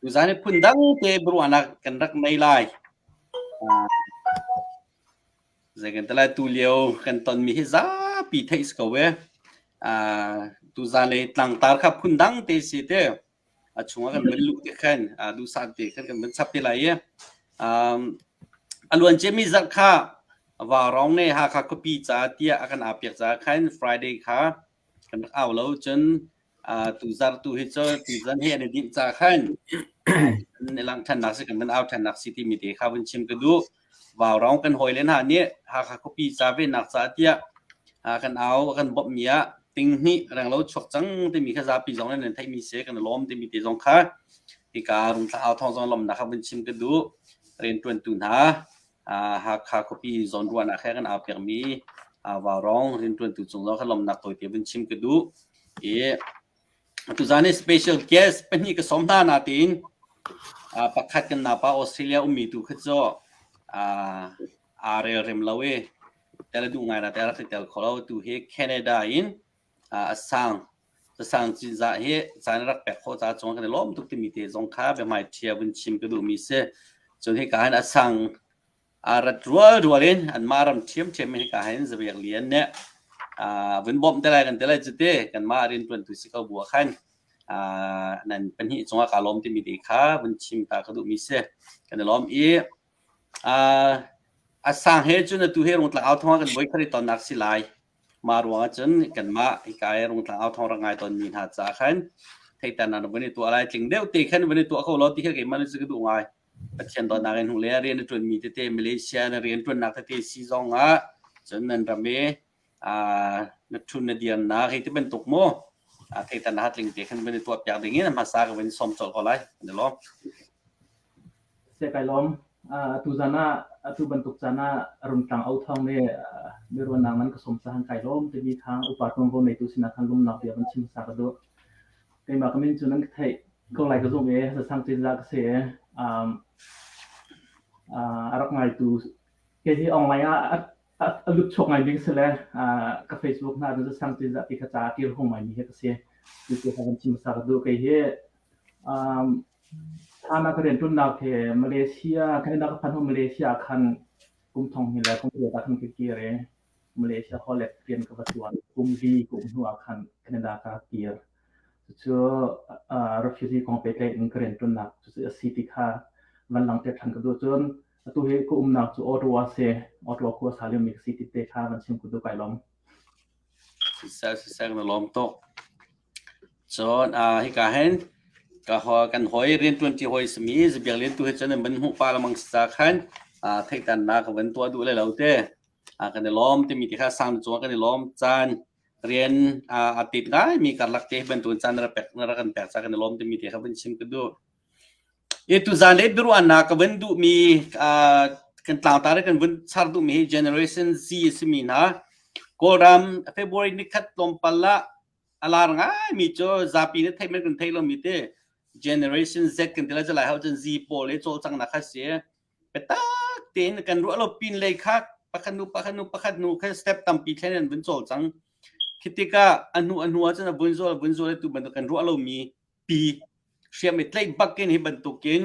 Tuzaan hi phundang te biaruahnak kan rak nei lai. Zei kan ti lai, tulio kan tonmi hi zapi theih si ko ee. Tuzaan le tlangtar kha phundang te si te a chungah kan vun luh te khan, duhsah te khan kan vun chap te lai i a luanciami zarh kha Vaarong ne Hakha khuapi caah tiah a kan aa piak caah khan Friday kha kan rak au lo cun tu zar tu hi cu tuzan he an i dinh ca khan i langh ṭhannak si kan kan au ṭhannak si timi te kha vun chim ka duh vaurong kan hawi le hna nih hakha khuapi ca ve nak ca tiah kan au kan bawmh mi ah ting hnih reng lo chuak cang timi kha zapi zong nan theihmi se kan lawm timi te zong kha hika rung thla au thong zong lomnak kha vun chim ka duh rianṭuantu hna Hakha khuapi zawnruahnak he kan aa pekmi Vaurong rianṭuantu cung zong kan lawmnak tawite vun chim ka duh. I tuzaan i special guest pahnih ka sawm hna natein pakhat kan napa Australia ummi tu kha cu aa relrem lo i tel a duh ngai na tel a rak i tel kho lo. Tu hi Canada in a sang. Casang cinzah hi caan rak pek kho ca chung kan i lawm tuk timi te zong kha biahmai ṭhia vun chim ka duhmi si. Cun hi ka hin a sang a rat rual rual in anmah ram ṭhiamṭhiam in hika hin zavek lian nih vun bawmh te lai kan ti lai cu ti kanmah rianṭuantu si ko bu ah khan nan pahnih cungah kaa lawm timi te kha vun chim ta ka duhmi si kan i lawm i a sang he cun atu hi rungtlang au thawngah kan voi khat i tonnak si lai Mah ruangah cun kanmah hika i Rungtlang Au Thawng rak ngai tawnmi hna caah khan theihternak na vun i tuah lai. Tling deuh te khan vun i tuah ko law ti khi keimah nih cu ka duh ngai. Pathian dawtnak in hnuh le rian a ṭuanmi tete Malaysia na rian ṭuannak tete si zongah cun nan ram i aa na ṭhun na dirnak hi ti bantuk maw aa theihternak ha tling te khan vun i tuahpiak ding in a hmasa ka vun i sawm colh ko lai, kan i lawm. Siai kai lawm. Atu zan ah, atu bantuk caan ah Rumtlang O Thawng nih miruahnak nan ka sawm caan kai lawm timi kha upa ṭuanvo ngeitu sinah khan lumnak bia van chim hmasa ka duh. Keimah ka min cu nan ka theih ko lai ka zumh i sasang cizah ka si i a rak ngaitu kei hi online ah a lut chok ngai ding si le ka Facebook hna in sasang cizah ti kha ca a kir hung ngaimi hi ka si. Cucu ka van chim hmasa ka duh. Kei hi Thlan ah ka rianṭuannak he Malaysia kan i nak a phanh hnu Malaysia ah khan kum thong hnih le kum paruk ah khan ka kir i Malaysia holh rian ka va ṭuan. Kum li kum hnu ah khan Canada ka kir. Cucu uh, refugee kong pehtlaih in ka rianṭuannak cucu a si ti kha van langte ṭhan ka duh cun atu hi ka umnak cu Ottawa se Ottawa khua sa lem mi ka si ti te kha van chim ka duh kai lom. Siseh siseh na lawm tuk. Cun aa hika hin ka hua kan hawi rianṭuanṭi hawi a simi Zabiak Lian tu he cun an van hmuh pah lengmang si ca khan aa theihternak ka van tuah duh lai lo te. Aa kan i lawm timi ti kha sang cungah kan i lawm. Caan rian aa aa tit ngaimi karlak te hi bantukin caan na ra pek na rak kan pek ca kan i lawm timi ti kha van chim ka duh. I tuzaan le biaruahnak ka van duhmi aa kan tlangtar i kan vun char duhmi hi Generation Z a simi hna Kawlram February ni khat tlawmpal ah A lar ngaimi cu zapi nih theih man kan theih lomi te generation Z kan ti le jalai ho cun Z pawl i cawlcanghnak kha si biatak tein kan ruah lo pin lei kha pakhat nu pakhat nu pakhat nu kha step tampi thlen an vun cawlcang khi tikah a hnu a hnu ah cun a vun zual a vun zual tu bantuk kan ruah lomi pi hriam i tlaih bakin hi bantukin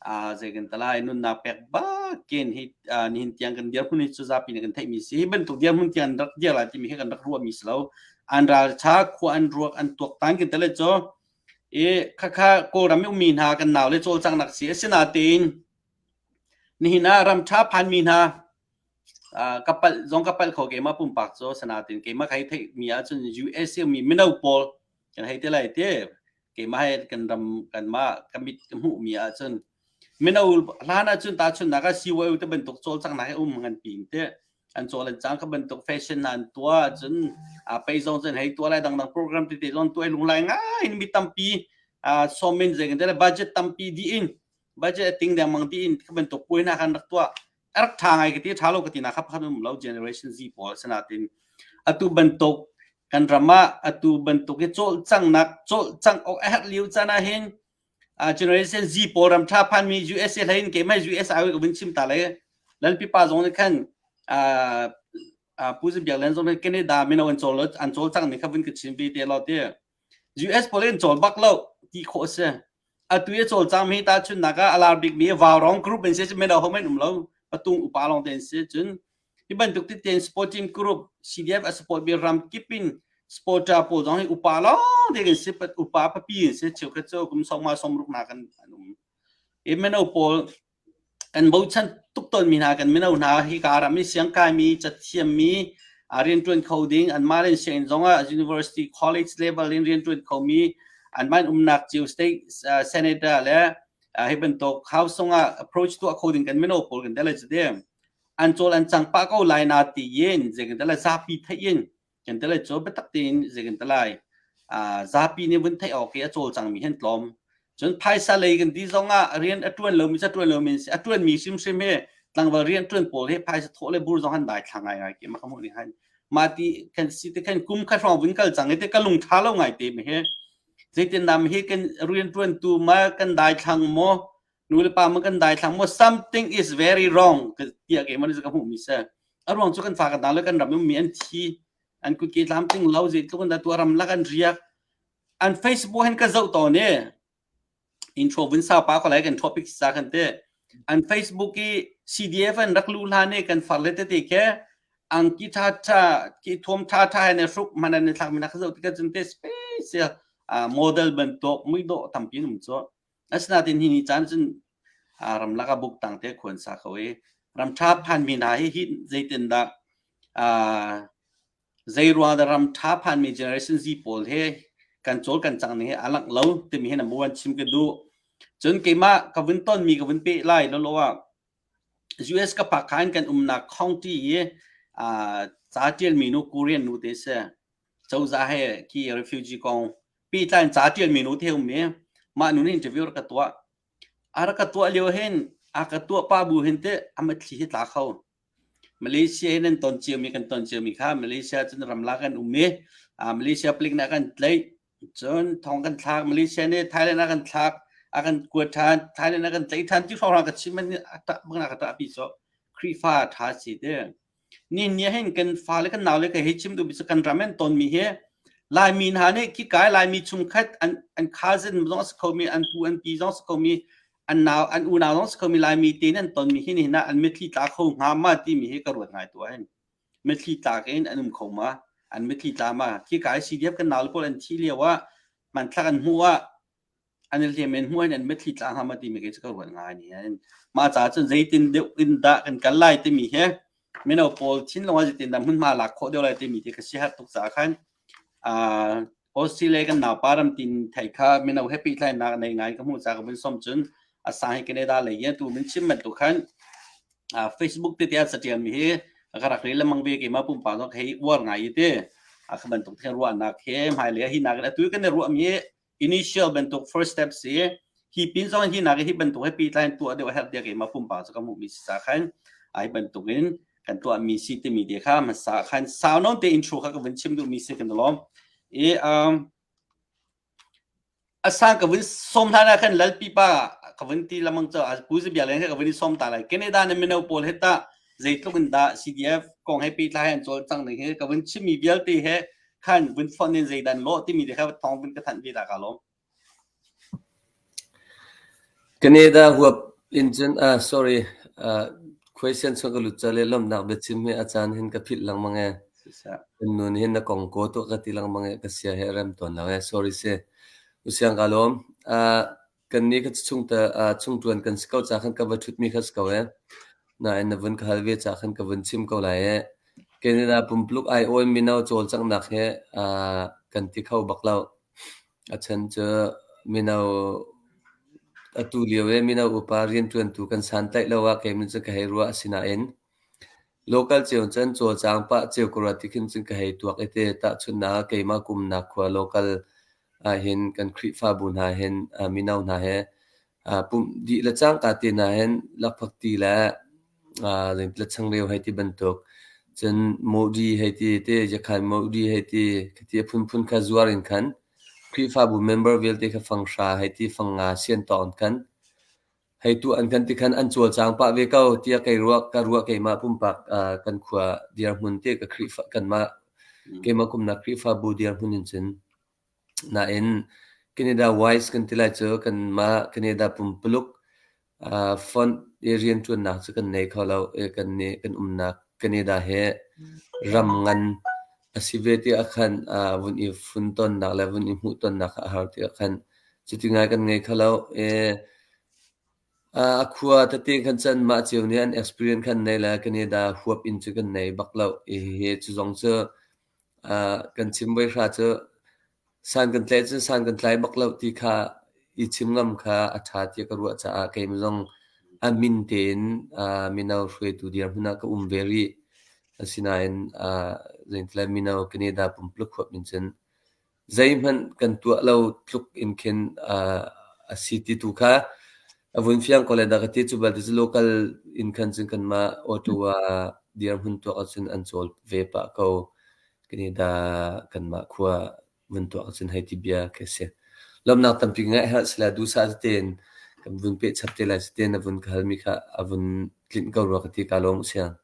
uh, zei kan tala nunnak pek bakin hi uh, nihin tiang kan dirhmun hi cuzapi ne kan theihmi si hi bantuk dirhmun tiang rak dir la timi hi kan rak ruah mi si lo an ral tha khua an ruak an tuak tan kin tale cho e khakha kawlram mi mi hna kan nau le chol chang nak si asinain nihin ah ram tha phan mi hna kapal zong kapal kho ke ma pumpak cho sanatin ke ma khai thei mi a chun USA mi mino pawl kan hei ti lai ti keimah he kan ram kanmah ka mit ka hmuhmi ahcun mino hlan ahcun tahchunhnak ah CYO te bantuk cawlcanghnak he um ngan pi te an cawl an cang ka bantuk fashion nan tua cun a pei zong cun hei tua lai dangdang program tete zong tuai lung lai ngai mi tampi somen zeng te le budget tampi di in budget ting dengmang di in ka bantuk puai na kan rak tua arak ṭha ngai ka ti ṭha lo ka ti nak kha pakhat um lo generation Z pawl asinain atu bantuk kan ram ah atu bantuk i cawlcanghnak cawlcangh awk a herh lio can ah hin uh, generation Z pawl ram ṭha phan mi USA hlain keimah US ah uin chim ta le lan pipa zong nih khan uh, pu zin biak lan zong Canada min an col an col cang ni kha vin ka chin bi te lo te US pawl in cawl bak lo ti khawh a si. Atu i a cawlcang mi tahchunhnak ah a lar bikmi Valrong group in si mino hohmanh an um lo. Patung upa lawng te an si. Cun hi bantuk titin sport team group CDF a support mi ram kip in supporter pawl zong hi upa lawng te kan si upa papi in si cheukhat cu kum sawma somruk nak an an um i mino pawl kan bochan tuk tawnmi hna kan mino hna hika ram i siangkaimi cathiammi rianṭuan kho ding anmah le sianginn zongah university college level in rianṭuan khomi anmah in umnak cio state senator le hi bantuk house zongah approach tuah kho ding kan mino pawl kan tel cu de an cawl an cang pah ko lai na ti yin zekan tel zapi theih in kan te lai cho biatak tin zei kan te lai zapi nih vun theih awk i a cawlcang mi hen tlawm cun phaisa lei kan ti zong ah rian a tuan lomi sa tuan lomi si a tuan mi hrimhrim hi tlangval rian tuan pawl hi phaisa thawh le bur zong han dai thla ngai ngai ki ma khamu ning han ma ti kan si te khan kum kha hrawng vun kal cang te ka lung tha lo ngai te mi hi zeitin nam hi kan rian tuan tu ma kan dai thlang mo nu le pa man kan daithlang maw something is very wrong tiah keimah nih ka hmuhmi si a ruang cu kan fa kan dang le kan ram mi an thi an kut ke tlam ting lo zei tluk an da tuah ram lak an riak an facebook hen ka zoh to ne intro vin sa pa ko lai kan topic sa kan te an facebook i cdf an rak lu hla ne kan far le te te ke ang ki tha tha ki thuam tha tha ne hruk man an thlak mi nak zo ti ka chun te special model ban to mui do tam pin um cho Asinain hi ni caan cun ramlak ah buk tang te khuan sa kho i ramṭha phanmi hna hi hi zeitindah zeiruang dah ramṭha phanmi generation Z pawl he kan cawl kan cang ning hi a langh lo timi hi number one chim ka duh. Cun keimah ka vun tonmi ka vun peh lai lawlaw ah US ka phak kha in kan umnak county i ca ṭialmi nu Korean nu te si. cozah he ki refugee kong pitlan ca tialmi nu te ummi mah nu nih interview rak ka tuah a rak ka tuah lio hin a ka tuah pa bu hin te amat thli hi tla kho malaysia hin an ton ciami kan ton ciami kha malaysia cun ramla kan ummi malaysia palik nih a kan tlaih cun thong kan thlak malaysia nih thailand a kan thlak a kan kuat than thailand a kan tlaih than ti hrawrang ka chim man a tah bak na ka tah pi so krifa tha si te Nihin ah hin kan fale kan naule ka hei chim duhmi cu kan ram an tonmi hi Laimi hna nih khikai Laimi chung khat an an cousin zong a si khomi an pu an pi zong a si khomi an nau an unau zong a si khomi Laimi te nih an tonmi hi nihin ah an mitthli tla kho hnga ma timi hi ka ruat ngai tuah hin mitthli tla ke in an um kho ma an mitthli tla ma khikai CDF kan naule pawl an thih lio ah hmanthlak an hmuh ah an i hliam in hmuh in an mitthli tla hna ma timi khi cu ka ruat ngai ni hin mah ca cun zeitin deuh in dah kan kal lai timi hi mino pawl thinlung ah zeitin dah hmunhma lak khawh deuh lai timi hi ka si har tuk caah khan uh, Australia kan naupa ramtin thei kha mino he pehtlainak nei ngai ka hmuh ca ka vun som cun a sang hi Canada lei hi tu min chim man tu khan uh, Facebook te te a satial mi hi ka rak ri lamang ve ke ma pumpa no hei war ngai te a khaban tuk the ruah nak he mai le hi nak atu kan ruah mi initial bantuk first steps i hi pin zong hi nak hi bantuk he pihtlai tuah deuh herh dia ke ma pumpa chu ka mu mi sa khan ai bantuk in kan tuah mi si ti mi te kha ma sa khan sa non te intro kha ka vun chim du mi se kan lom i um asan ka vun som tha na khan lal pipa ka vun ti lamang cha al ku ji bia len ka vun som ta lai canada ne mino pol heta zeitluk in da cdf kong he pi tla han chol chang ne he ka vun chimi vialte he khan vun thon in zeidan law timi te kha thong vun ka thanh ve da ka lom Canada huap in cun ah sorry uh, question so ka lut chale lom nak be chim me achan hin ka phit lang mange nun hin na kong ko to ka ti lang mange ka sia he rem ton na sorry se usiang ka lom uh, Kannih ka chungṭuan kan si ko caah ka va ṭhutmi kha si ko ee. Nain na vun ka hal ve caah khan ka vun chim ko lai ee. Canada pumpuluk aiawh in mino cawlcanghnak hi kan ti kho bak lo. A chan cu mino atu lio i mino upa rianṭuantu kan santaih lo ah keimah cu ka hei ruah. Asinain local cio cun cawlcang pah cio ka ruat ti khin cun ka hei tuak i ti. Tahchunhnak ah keimah kumnak khua local ahhin kan Khrihfabu hna hin mino hna he pumh dih le cangka te hna hin lakphak ti le le changreu hei ti bantuk cun Modi hei ti te jakhan Modi hei ti khati phunphun kha zuar in khan Khrihfabu member vialte kha fang hra hei ti fang nga sian tawk in khan hei tuah an kan ti khan an cawlcang pah ve ko tiah kei ruah ka ruah keimah pumpak ah kan khua dirhmun te ka Khrihfa kanmah keimah kumnak Khrihfabu dirhmun in cun nain Canada wise kan ti lai cu kanmah Canada pumpuluk uh, font i riantuannak cu kan nei kho lo i kan ne kan umnak Canada he ram ngan a si ve ti ah khan uh, vun i funtonnak le vun i hmuhtonnak a har ti ah khan Cuti ngai kan ngei kho loh. Ee, a khua tete khan cu anmah cio nih an experience kha an nei le Canada huap in cu kan nei bak loh. Hihi cu zong cu kan chim voi hra cu san kan tlai cun san kan tlai bak loh ti kha i chim ngam kha a ṭha tiah ka ruah caah keimah zong a min tein mino hruaitu dirhmun ah ka um ve rih. Asinain, zeitila mino Canada pumpuluk huap in cun zeihmanh kan tuah lo tluk in khin a si ti tu kha a vun fiang ko le da ka ti cu bal ti local in khan cun kanmah auto ah dirhmun tuak ahcun an cawl ve pah ko kani da kanmah khua vun tuak ahcun hei ti bia khi si lomnak tampi ngai ha sila dusa tein kan vun pe chap te lai te na vun ka hal mi kha a vun tlin ko rua ka ti ka long siang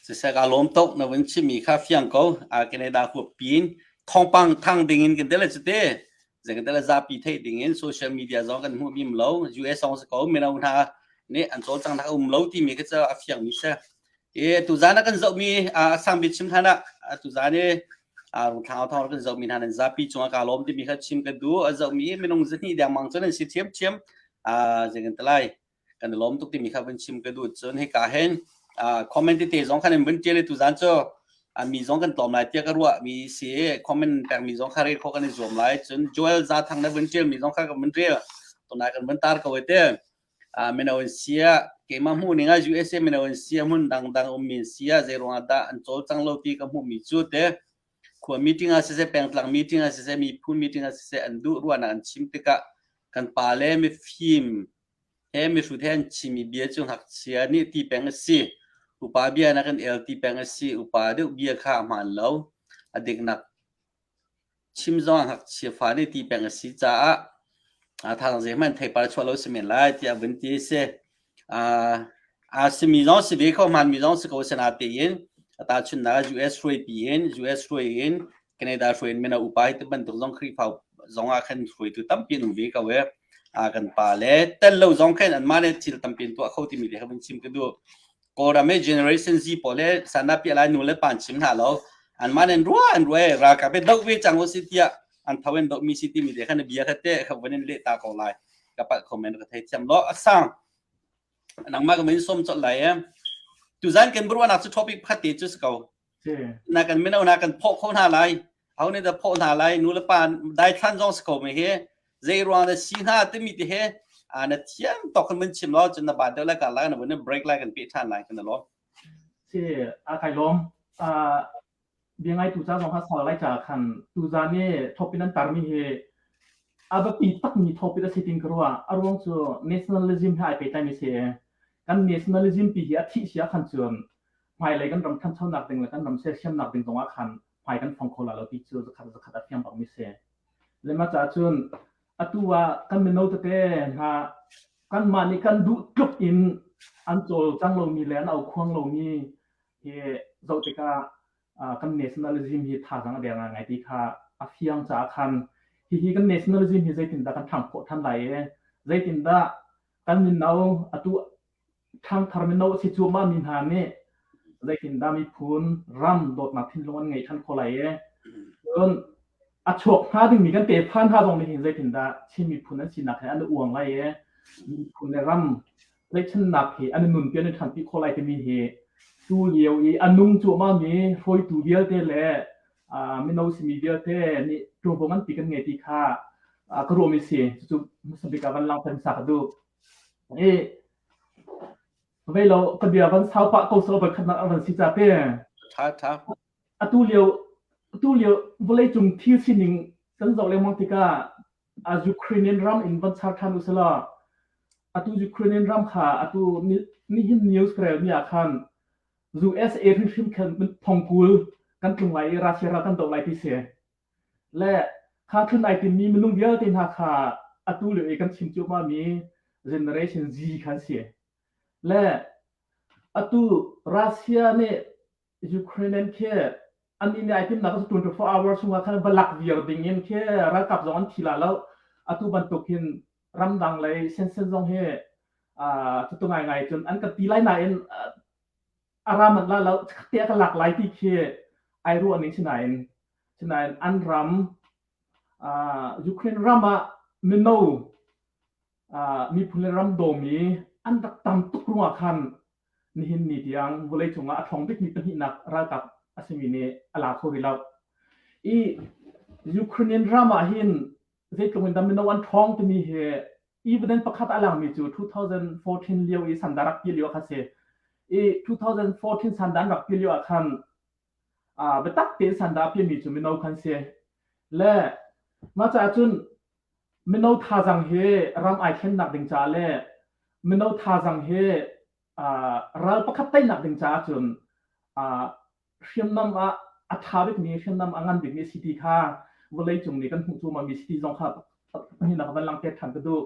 Siseh kaa lawm tuk na vun chimmi kha fiang ko. Ah, Canada huap pin thawngpang thang dingin kan tel cu te. Zei kan tel zapi theih dingin social media zong kan hmuh bim lo. US zong si ko mino hna nih an cawlcang nak a um lo timi ka cu a fiangmi si. E tuzaan ah kan zohmi ah sangbik chim than ah tuzaan i ah rungthlang thawng kan zohmi hna nan zapi cungah kaa lawm timi kha chim ka du. A zohmi minung zahnih dengmang cu nan si thiamthiam. Ah, zei kan tel lai. kan i lawm tuk timi kha vun chim ka duh cun hika hin comment tete zong khan in vun tial tu zan cu mi zong kan tlawm lai tiah ka ruah mi si comment pekmi zong kha rel kho kan i zuam lai cun Joel Za Thang na vun tial mi zong kha kan vun rel tunai kan vun tar ko te mino in sia keima hmu ning a USA mino in sia hmun dang dang um min sia zei ruang dah an chol chang lo ti ka hmu mi cu te khua meeting a sise pengtlang meeting a sise mi phu meeting a sise an du ruana an chim tikah kan pa le mi fim mihrut he an chimmi bia cu ngakchia nih ti peng a si. Upa bia nakin el ti peng a si. Upa deuh bia kha a hmaan lo. A diknak chim zongah ngakchia fa nih ti peng a si caah thang zeihmanh theipar chuah lo a si men lai tiah a vun ti a si. Aa simi zong si ve ko, hmaanmi zong si ko. Asinain a tahchunhnak ah US hruaipi in US hruai in Canada hruai in mino upa hi tibantuk zong Khrihfa zong ah khan hruaitu tampi an um ve ko ee. A kan pa le tel lo zong khan an mah le thil tampi an tuah kho timi te kha van chim ka du. Kawlram e Generation Z pawl le sana pi alai nu le pan chim hna lo. An mah nen rua an rue ra ka pe dok ve chang ho si tia an thawen dok mi si ti mi te khan bia kha te kha van in le ta ko lai. Ka pa comment ka thei thiam lo asang. Nang ma ka men som chot lai em. Tuzan kan burwa nak chu topic phatte chu ko na kan minonak kan phaw kho hna lai ho nih dah phaw hna lai nu le pa daithlan zong si ko mi hi zei ruang na si hna timi te he na thiam tok kan mun chim lo cun na ba deuh lai ka lai na bun break lai kan pe than lai kan lo si a kai lom a bia ngai tu cha zong ha sa lai cha khan tu za ni thopin an tar mi hi abapi tak mi thopin a siting karwa aruang chu nationalism ha ai pe tai mi se kan nationalism pi hi a thi sia khan chuan hmailei kan ram thanchonak ding le kan ram sersiamnak ding kongah khan hmai kan phong kho la lo ti cu zakhat zakhat a fiang bangmi si le ma ca cun atu ah kan mino tete hna kan mah nih kan duh tluk in an cawl cang lomi le an au khuang lomi hi zoh tikah kan nationalism hi thazang a der ngai ti kha a fiang caah khan hihi kan nationalism hi zeitindah kan thang khawh than lai e zeitindah kan mino atu Ṭhangthar mino a si cuahmah mi hna nih zeitindah miphun ram dawtnak thinlung an ngei ṭhan kho lai ee. Cun a chuak hnga dingmi kan tefa hna zong nih hin zeitindah Chin miphun an sinak he an i uang lai ee. Miphun le ram tlaihchannak hi an i nunpi an i ṭhanpi kho lai timi hi tu lio i a nung cuahmah mi hruaitu vialte le uh, mino simi vialte nih ṭurbong an ti kan ngei ti kha uh, ka ruam i si. Cucu hmasabik ah van langter hmasa ka duh. Vei lo ka bia van sau pah ko sawh voi khatnak a van si ca te. Tha tha. Atu lio atu lio vawlei cung thil sining kan zoh lengmang tikah a Ukrainian ram in van char than usala atu Ukrainian ram kha atu nihin news kare ni akhan USA hrimhrim khan thongkul kan tlung lai i Russia ral kan do lai ti se le kha thun ai timmi minung vialte hna kha atu lio i kan chim cuahmah mi generation Z khan si le atu Russia nih Ukraine an khi an nih ai timnak cu 24 hours chung ah khan va lak viar ding in khi ralkap zong an thi la lo atu bantuk hin ramdang lei sensen zong hi tutu ngai ngai cun an kan ti lai nain Aram an la lo tiah ka lak lai ti khi ai ruah ning sinain sinain an ram Ukraine ram ah mino miphun le ram dawm i an rak tam tuk rungah khan nihin ni tiang vawlei cungah a ṭhawng bikmi pahnihnak ralkap a simi nih a la kho rih lo. I Ukrainian ram ah hin zeitluk in dah mino an ṭhawng timi hi Even pakhat a langmi cu 2014 lio i sanda rak pi lio kha si. I 2014 sandan rak pi lio ah khan uh, biatak tein sanda pimi cu mino kan si. Le mah caah cun mino thazang hi ram ai thlennak ding caah le mino thazang hi uh, ral pakhat teinak ding caah cun uh, hriamnam ah a ṭha bikmi hriamnam a ngan bikmi city kha vawleicung nih kan hmuh cuahmahmi city zong kha pahnih na ka van lang te ṭhan ka duh.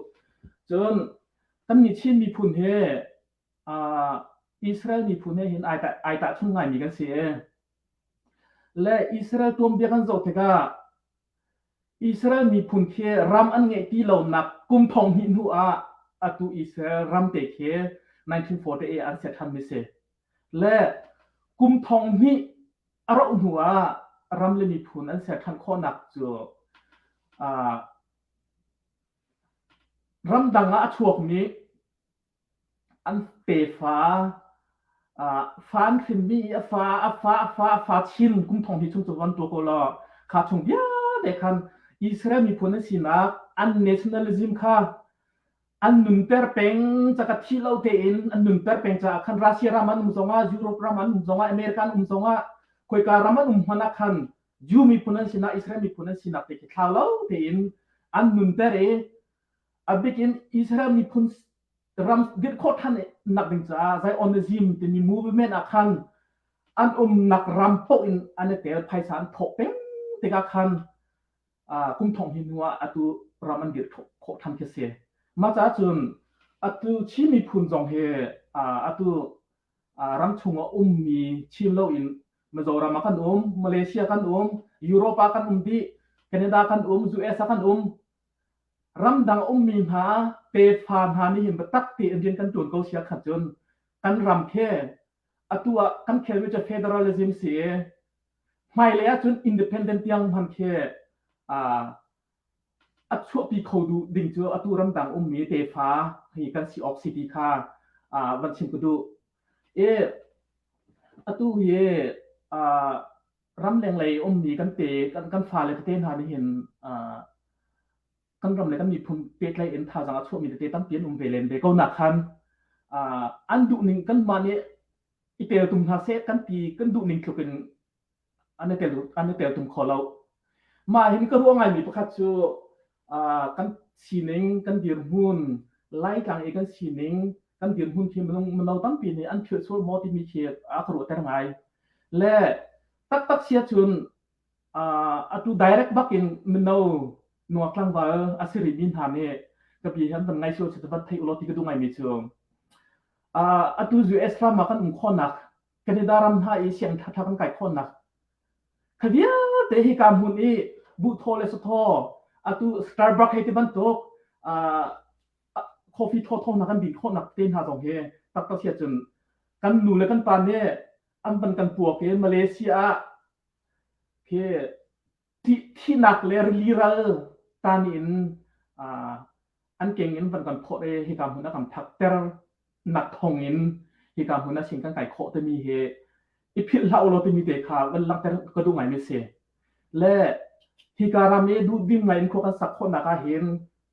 Cun kan nih Chin miphun hi Israel miphun he hin ai tahchung ngaimi kan si. Le Israel tuanbia kan zoh tikah Israel miphun khi ram an ngeih ti lonak kum thong hnih hnu ah atu Israel ram te khi 1948 an set than mi si. Le kum thong hnih a rauh hnu ah ram le miphun an ser than khawhnak cu aa ramdang ah a chuak mi an pefa fan hrimmi i a fa a fa a fa a fa chin kum thong hi chung cu van tua ko la kha chung viale khan Israel miphun an sinak an nationalism kha an nunter peng ca ka thi lo tein an nunter peng ca khan Russia ram an um zongah Europe ram an um zongah America an um zongah khoika ram an um hmana khan Jew miphun an sinak Israel miphun an sinak te khi thlau lo tein an nunter i abik in Israel miphun ram dirh khawh than nak ding caah Zionism timi movement ah khan an um nak ram phoh in an i tel phaisa an thawk peng tikah khan kum thong hi nu ah atu ram an dirh khawh than khi si ma ca cun atu Chin miphun zong hi atu ram chung a um mi Chin lo in Mizoram kan um Malaysia kan um Europa kan um di Canada kan um US kan um Ramdang ummi hna tefa hna nih hin biatak tein rian kan tuan ko sia khat cun kan ram khi atu ah kan khelmi cu federalism si hmailei ahcun independent tiang hman khi a chuahpi kho duh ding cu atu ramdang ummi tefa hi kan si awk si ti kha van chim ka duh. I atu hi ramlenglei i ummi kan pe kan fale tete hna nih hin kan ram le kan miphun pehtlaih in thazang a chuahmi tete tampi an um ve len ve ko na khan an duhning kanmah nih i tel tum hna seh kan ti kan duhning tluk in an i tel an i tel tum kho lo mah hin ka ruah ngaimi pakhat cu kan sining kan dirhmun laitlang i kan sining kan dirhmun khi mino tampi nih an philh sual maw timi khi a ka ruahter ngai le taktak sia cun atu direct bakin mino nuak tlangval a si rih mi hna nih ka pi hian van ngai sual si van theih ulo ti ka du ngai mi cu atu US ram ah kan um khawnak Canada ram hna i siang thatha kan kai khawnak Kha vialte hi kaa hmun i buhthaw le suthaw atu Starbucks hei ti bantuk coffee thawthaw hna kan bin khawhnak te hna zong hi taktak hi cun kan nu le kan pa nih an van kan puak i Malaysia ah khi thihnak le rili ral tan in an keng in van kan phawt i hika hmun a kan phakter nak thong in hika hmun a sin kan kai khawh timi hi i philh hlah ulaw timi te kha van langhter ka duh ngai mi si le hika ram i duh ding ngai in khua kan sak khawhnak ah hin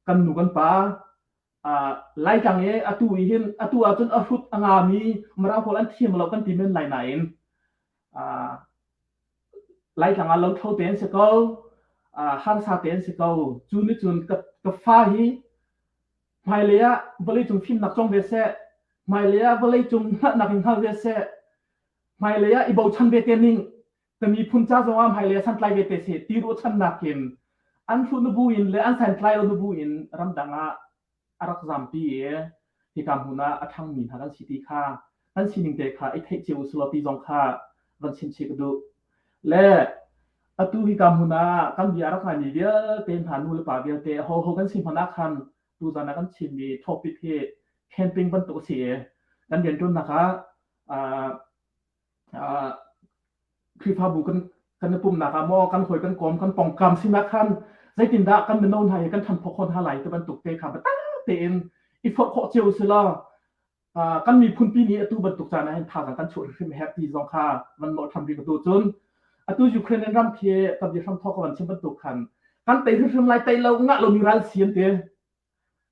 kan nu kan pa lai tlang i atu i hin atu ahcun a hrut a nga mi mara pawl an thiam lo kan ti men lai nain laitlang ah lothlo te an si ko harsa te an si ko cu ni cun ka fa hi hmailei ah vawlei cung fimnak cong ve seh hmailei ah vawlei cung hngalhnak in hngal ve seh hmailei ah i bochan ve te ning ka miphun ca zong ah hmailei ah santlai ve te se ti ruachannak in an hlu nubu in le an santlai lo nubu in ramdang ah a rak zampi i hika hmun ah a ṭhangmi hna kan si ti kha kan sining te kha i theih cio usulaw ti zong kha van chim chih ka duh. Le atu hika hmun ah kan bia a rak ngaimi vialte hna nulepa vialte ho ho kan si hmanh ah khan tuzan ah kan chimmi topic hi camping bantuk a si i kan rianṭuannak ah Khrihfabu kan kan i pumnak ah maw kan hawi kan kom kan pongkam sinak khan zeitindah kan mino hna hi kan than phok hon hna lai ti bantuk te kha biatak tein i forh khawh cio sila kan miphun pi nih atu bantuk caan ah hin thazaang kan chuah hrim herh ti zong kha van mawh tham rih ka tu cun atu Ukraine ram khi ka bi hram thok ka van chim bantuk khan kan tei hrim lai tei lo ngah lomi ral si an te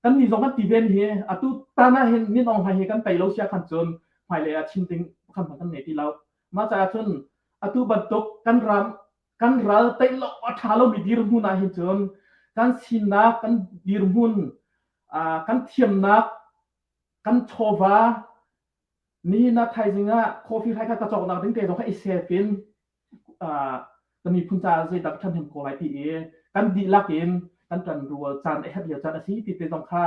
Kannih zong kan ti ven hi atu tan ah hin Min Aung Hlaing hi kan tei lo sia khan cun hmailei ah chim ding kan hmanh kan nei ti lo. Mah caah cun atu bantuk kan ram kan ral tei lo a tha lomi dirhmun ah hin cun kan sinak kan dirhmun uh, kan thiamnak kan chawva Nihin ah thaizing ah coffee hrai kha ka cawknak ding te zong kha i set in uh, ka miphun caah zeidah ka ṭhahnem ko lai ti i kan dihlak in kan ṭan rual caan e hat lio caan a si ti te zong kha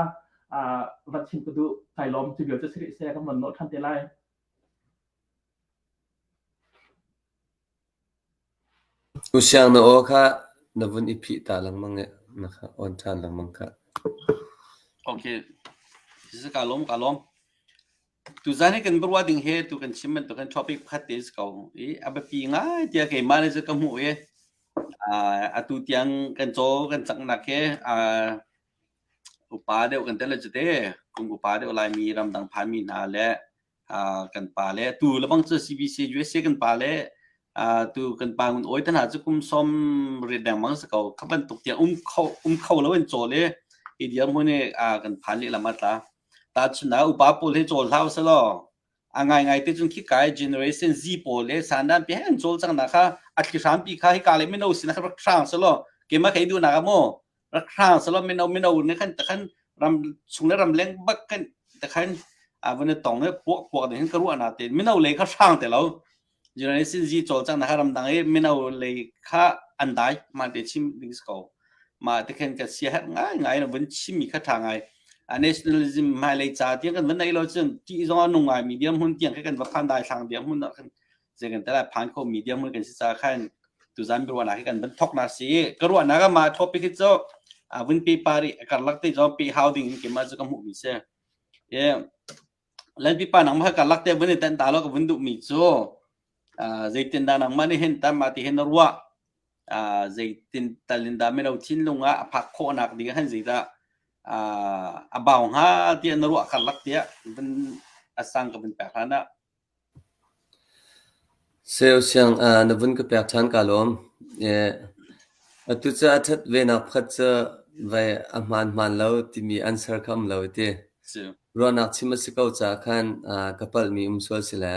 uh, van chim ka duh kai lom cu vial cu siri se kan van nol ṭhan te lai. U Siang na aw kha na vun i phih ta lengmang i na kha awn ṭhan lengmang khah. Okay, this is ka lawm, ka lawm. Tuzaan hi kan biaruah ding hi tu kan chim bantuk khan topic pakhat te si ko i a biapi ngai tiah keimah le cu ka hmuh i uh, atu tiang kan caw kan caknak hi uh, upa deuh kan tel le cu te kum upa deuh Laimi ramdang phanmi hna le kan pa le tu lebang cu CBC USA kan pa le tu kan pa ngun oi tan ha cu kum som rit deng mang sa ko khaban tuk tiang um kho um kho lo in cho le i dia mu ne kan phan li lama tla ta chuna upa pol he chol hlau sa lo angai ngai te chun khi kai generation z pol le sandan pe han chol chang na kha atli hram pi kha hi ka le mino sin kha rak sang sa lo ke ma kai du na ga mo rak hrang salo mino mino ne khan takhan ram chung le ram leng bak kan takhan avon tong ne po po de hin karu ana te mino le ka hrang te lo journalism ji chol chang na ha ram dang e mino le kha andai ma te chim ding ko ma te khen ka sia hat ngai ngai na vun chim mi kha tha ngai a nationalism mai le cha ti kan vun nai lo chun ti zong nung ngai medium hun tiang kan va khan dai thlang dia hun kan zegantalah phan kho media mun kan si sa khan tuzan bi ruana kan ban thok na si ka ruana ga ma topic hi cho avun pi pari kar lak te jom pi how ding ke ma chu ka mu mi se ye lan pi pa nang ma kar lak te bun tan ta lo ka bun du mi chu zeitin da nang ma ni hen tam ma ti hen ruwa zeitin talin da me lo thin lunga aphak kho nak ding han zeita abau ha ti an ruwa kar lak te ban asang ka bin pa hana Seu siangah na vun ka pek ṭhan kaa lawm. Atu cu a ṭhat venak pakhat cu vei a hmaan hmaan lo timi an ser kha um lo i ti. Ruahnak chim a si ko caah khan ka palhmi um sual si le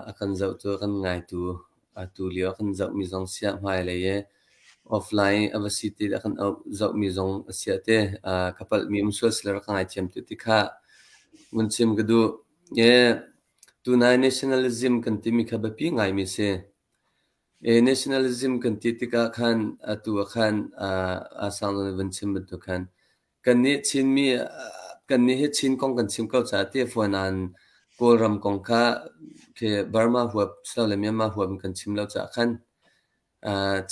a kan zohtu, a kan ngaitu Atu lio a kan zohmi zong siah hmailei i offline a va si ti le a kan zohmi zong a siah te ka palhmi um sual sila rak ka ngaithiam tu ti kha vun chim ka duh. Tunai nationalism kan timi kha biapi ngaimi si. Nationalism kan ti tikah khan atu ah khan a sang na vun chim bantuk khan Kannih hi Chin kong kan chim ko caah tehfuan aan Kawlram kong kha khi Burma huap si lo le Myanmar huap in kan chim lo caah khan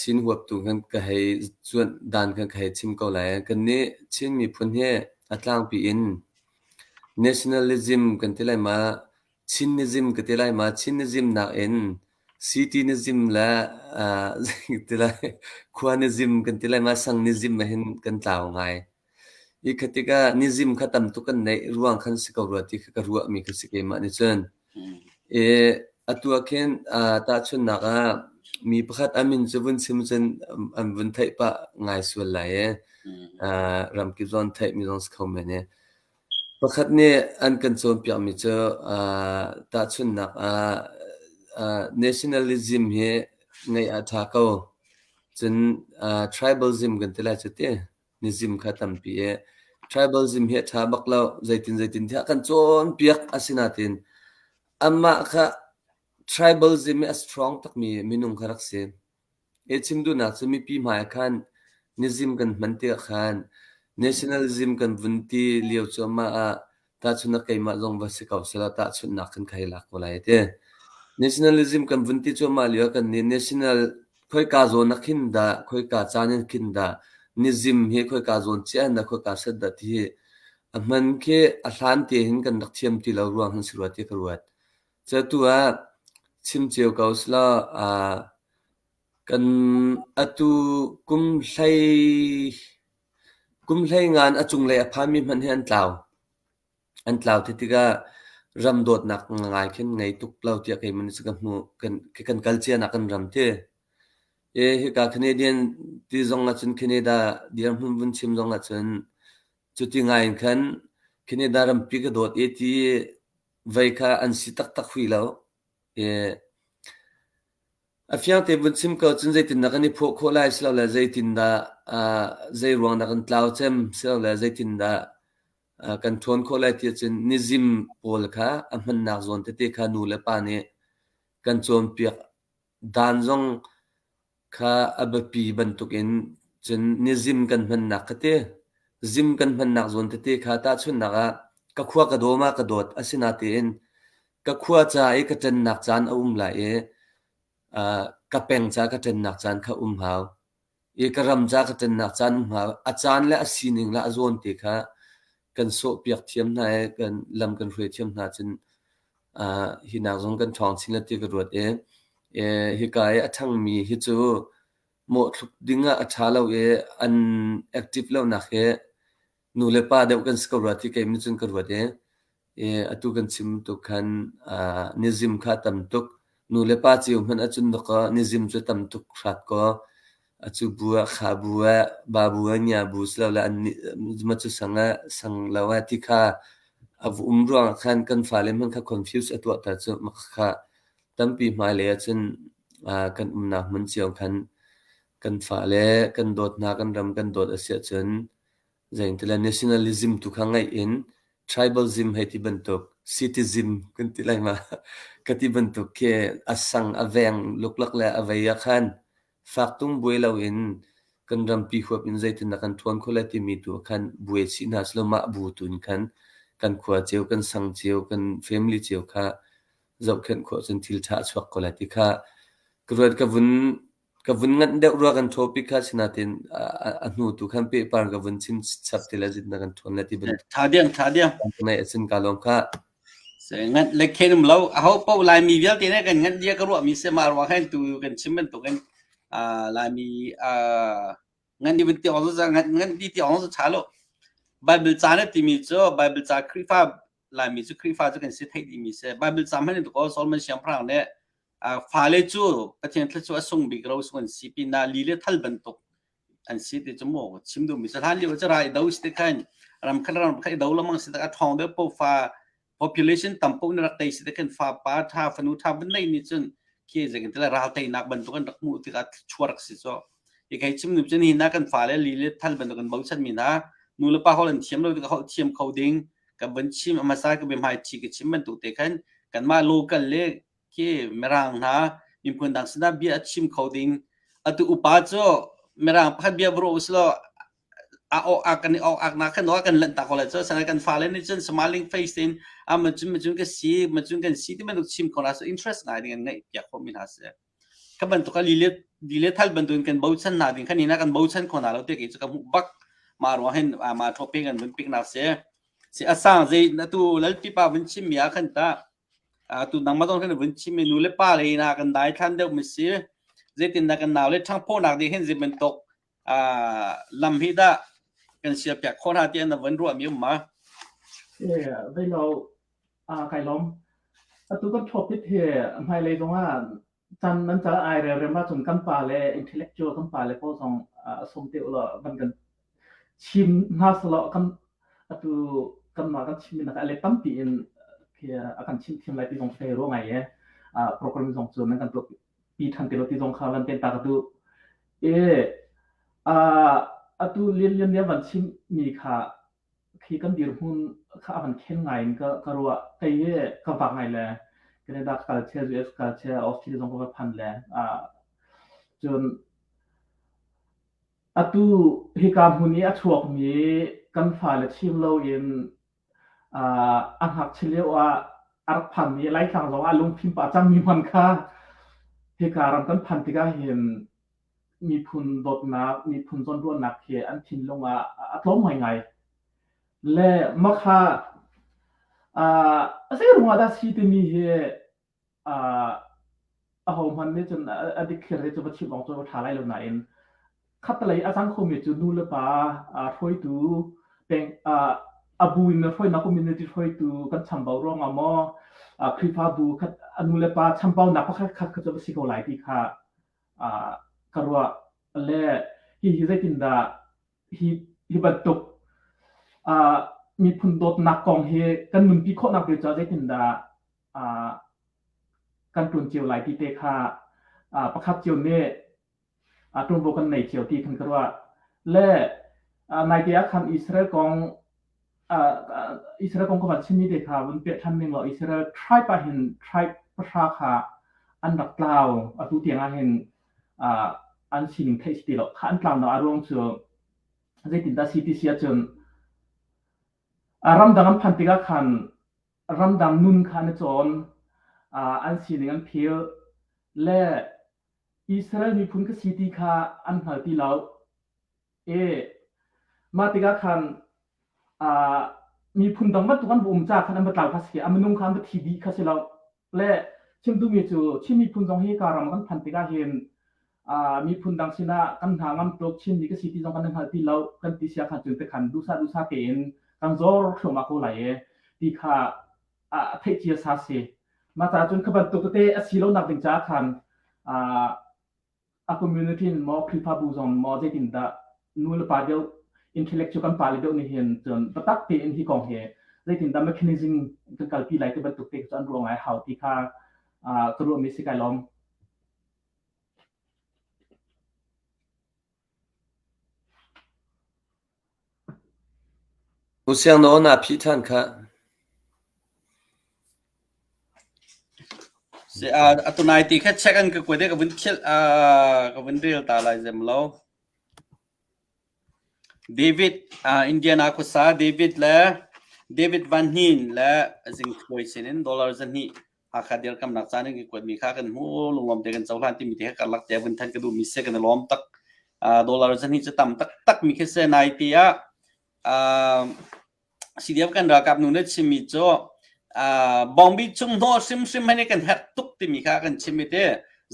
Chin huaptu khan ka hei cuanh dan khan ka hei chim ko lai. Kannih Chin miphun hi a tlangpi in nationalism kan ti lai ma, Chin na zim ka ti lai ma? Chin na zim nakin city na zim le aa zei ka ti lai khua na zim kan ti lai ma sang ni zim ahhin kan tlau ngai. Hi kha tikah ni zim kha tam tuk kan neih ruang khan si ko rua ti kha ka ruahmi kha si keimah nih cun. I atu ah khin aa tahchunhnak ah mi pakhat an min cu vun chim cun an an vun theih pah ngai sual lai i aa ramkip zong an theih mi zong si kho men i Pakhat nih an kan cawnpiakmi cu aa tahchunhnak ah aa nationalism hi ngeih a ṭha ko. Cun aa tribalism kan ti lai cu ti. Nizim kha tampi i tribalism hi a ṭha bak lo. Zeitin zeitin tiah kan cawnpiak a si nain anmah kha tribalism hi a strong takmi minung kha rak si. A chim duhnak cu mipi hmai ah khan na zim kan hman ti ah khan nationalism kan vun ti lio cuahmah ah tahchunhnak keimah zong va si ko sehla tahchunhnak kan khai lak ko lai a ti. Nationalism kan vun ti cuahmah lio ah kannih national khoika zawn ah khin dah khoika caan in khin dah na zim hi khoika zawn cia in dah khoika set dah ti hi a hman khi a hlan te hin kan rak thiam ti lo ruang hin si rua ti ka ruat. Catu ah chim cio ko selaw aa kan atu kum hlei kum hlei ngan a cunglei a phanmi hmanh hi an tlau. An tlau ti tikah ram dawtnak ngai khin ngei tuk lo tiah keimah nih ka hmuh. Kan kal cia nak kan ram ti. Hika Canadian ti zong ahcun Canada dirhmun vun chim zong ahcun cuti ngai in khan Canada rampi ka dawt i ti Vei kha an si taktak hwi lo. I a fiang te vun chim ko cun zeitindah kan i phuah khawh lai silole zeitindah aa zeiruang dah kan tlau cem silole zeitindah aa kan ṭhawn khawh lai ti ahcun nizim pawl kha a hmannak zawn tete kha nu le pa nih kan cawnpiak. Dan zong kha a biapi bantukin cun ni zim kan hmannak ka ti. Zim kan hmannak zawn tete kha tahchunhnak ah ka khua ka dawm ah ka dawt asinatein ka khua ca i ka ṭennak caan a um lai i, aa, ka peng ca ka ṭennak caan kha um hau. I ka ram ca ka ṭennak caan um hnga, a caan le a sining le a zawn te kha kan sawhpiak thiam hna i kan lam kan hruai thiam hna cun aa hi nak zong kan ṭhawng chin le ti ka ruat i eh hika i a ṭhangmi hi cu mawhthluk ding ah a ṭha lo i an active lonak hi Nu le pa deuh kan si ko rua ti keim in cun ka ruat i, i atu kan chim tuk khan ah nizim kha a tam tuk. Nu le pa cio hmanh ahcun dawkaw nizim cu a tam tuk hrat kaw, a cu bu ah kha bu ah, ba bu ah, ngia bu silole an nih ma cu sang ah sang lo ah ti kha a um ruangah khan kan fale hmanh kha confuse a tuahter cu. Mah kha tampi hmailei ahcun ah kan umnak hmun cio khan kan fale kan dawt hna, kan ram kan dawt a si ahcun Zeitile nationalism tu kha ngeih in tribalism hei ti bantuk, citizen kan ti lai ma ka ti bantuk khi a sang a veng luklak le a vei ahkhan fak tung buai loin kan rampi huap in zeitindah kan ṭuan khawh lai timi tu ahkhan buai chih hna sehlaw mah bu tu in khan kan khua cio, kan sang cio, kan family cio kha zohkhenh khawh cun thil ṭha a chuak ko lai ti kha ka ruat ka vun Ka vun nganh deuh rua kan ṭhaw pik kha, asinain a hnu tu khan pehpar ka vun chim chap ti le zitnak kan ṭhawn le ti bantuk ṭha ding ṭha ding ngeih a sin ka lawm khah. Nganh le khen um lo aho paoh Laimi vialte nih kan nganh dia ka ruahmi si mah ruang hen tu kan chim bantuk in Laimi nganh di vun ti awng zu nganh nganh di ti awng zu ṭha lo. Bible ca na timi cu Bible ca Khrihfa Laimi cu Khrihfa cu kan si thei dimi si. Bible ca hmanh in tuko Solomon siangpahrang nih fale cu Pathian thla cu a sung bik ro sung an si pin ah li le thal bantuk an si ti cu mo chim duh mi sa hlan lio ca rai do si te khan ram khat ram khat do lamang si tak a thong de po fa population tampuk na rak tei si te khan fa pa tha fanu tha ban nei ni chun khi zeng te la ral tei nak bantuk an rak mu ti ka chuar si so i kai chim nu chen hi na kan fa le li le thal bantuk an bo chan mi na nu le pa hol an thiam lo ti ka hol thiam kho ding ka ban chim amasa ka be mai thi ka chim ban tu te khan kan ma local le Ki Mirang hna miphun dang sinah bia a chim kho ding atu upa cu Mirang pakhat bia va ruah usih law a awk ak kan i awk ak nak khan awak kan lanh ta ko lai cu sanai kan fale nih cun smiling face in a man cun man cun ka si man cun kan si ti bantuk chim khona so interest ngai ding an ngaih piak khomi hna si ka bantuk a lilet lilet hal bantuin kan bochan hna ding khan hina kan bochan khona lo te ke cu ka mu bak ma ruang hin a ma thope kan vun pik nak se si asang zei na tu lal pipa vun chim ya khan ta Atu nangmah zong kan i vun chim i nu le pa le hna kan dai hlan deuh mi si. Zeitindah kan nau le ṭhangphonak dih hin zeibantuk uh, lam hi dah kan sial piak khawh hna tiah na vun ruah mi um ma? Ie, vei lo, uh, kai lom. Atu kan thopit hi hmailei zong ah Tan nan cal ai relrem ahcun kan pa le intellectual kan pa le pawl zong a sawm te ulaw van kan chim hna selaw kan atu kanmah kan chim nak a let tampi in a kan chim thiam lai ti zong thei ro ngai e program zong cu nan kan tuak pi than te lo ti zong kha lan ten ta ka tu e atu lian lian nia van chim mi kha khi kan dirhmun kha a van khen ngai in ka ka ruah kei hi ka vak ngai le Canada ka kal che US ka kal che Australia zong ka va phan le uh, cun atu hika hmun i a chuakmi kan fale chim lo in uh, a ngakchi lio ah a rak phanmi laitlang zong ah lungphim pah cangmi man kha hika ram kan phan tikah hin miphun dawtnak, miphun zawnruahnak hi an thinlung ah a tlawm ngaingai. Le makha uh, a zeirung ah dah si timi hi uh, a hohman nih cun a dikthlir hi cu va chim awng cu va ṭha lai lo nain khatlei a cang khomi cu nu le pa uh, hruaitu peng uh, abu in le hruainak community hruaitu kan chambau ruangah maw uh, khrifabu khat anu le pa chambaunak pakhat khat kha cu va si ko lai ti kha ka ruah le hihi zeitindah hi hi bantuk miphun dawtnak kong hi kan nunpi khawhnak te caah zeitindah kan ṭun cio lai ti te kha pakhat cio nih ṭunvo kan nei cio ti khan ka ruah le naite ah khan Israel kong Israel kong kong a chimmi te kha vun peh ṭhan ning law Israel tribe ah hin tribe pahra kha an rak tlau. Atu tiang ah hin an sining theih si ti lo. Kha an tlau hna a ruang cu zeitindah si ti si ahcun ramdang an phan tikah khan ramdang nun kha an i cawn, an sining an phil le Israel miphun ka si ti kha an hngal ti lo. E, mah tikah khan uh, miphun dang bantuk an va um ca khan an va tlau kha si a minung kha an va thi dih kha si lo le chimtumi cu Chin miphun zong hi ka ram kan phan tikah hin uh, miphun dang sinah kan hna ngam tluk Chin mi ka si ti zong kan hngal ti lo kan ti sia khan cun te khan dusa dusa tein kan zor thluama ko lai e ti kha ah a theih cia sa si mah ca cun kha bantuk tete a si lo nak ding ca khan a community in maw khrifabu zong maw zeitin dah nu le pa deuh intellectual kan pa le deuh nih hin cun batak tein hi kong hi zeitin dah mechanism kan kalpi lai te bantuk te cu an ruang ai hau ti kha ka ruah mi si kai lom Usiang na aw naa phih ṭhan khah. Atu nai ti kha check an ka kuat i ka vun khilh ka vun rel ta lai zem lo. David Indiana khuasa David le David Van Hnin le a zingthawi sinin dollar zahnih. Hakha dirkamnak caan in kan kuatmi kha kan hmu lunglawm te kan cohlan timi te kha karlak te vun than ka duhmi se kan lawm tak dollar zan hi cu tam taktak mi khi se nai ti ah CDF kan ralkap nu ne chimi cu bongbi chung hnawh hrimhrim hane kan herh tuk timi kha kan chimi te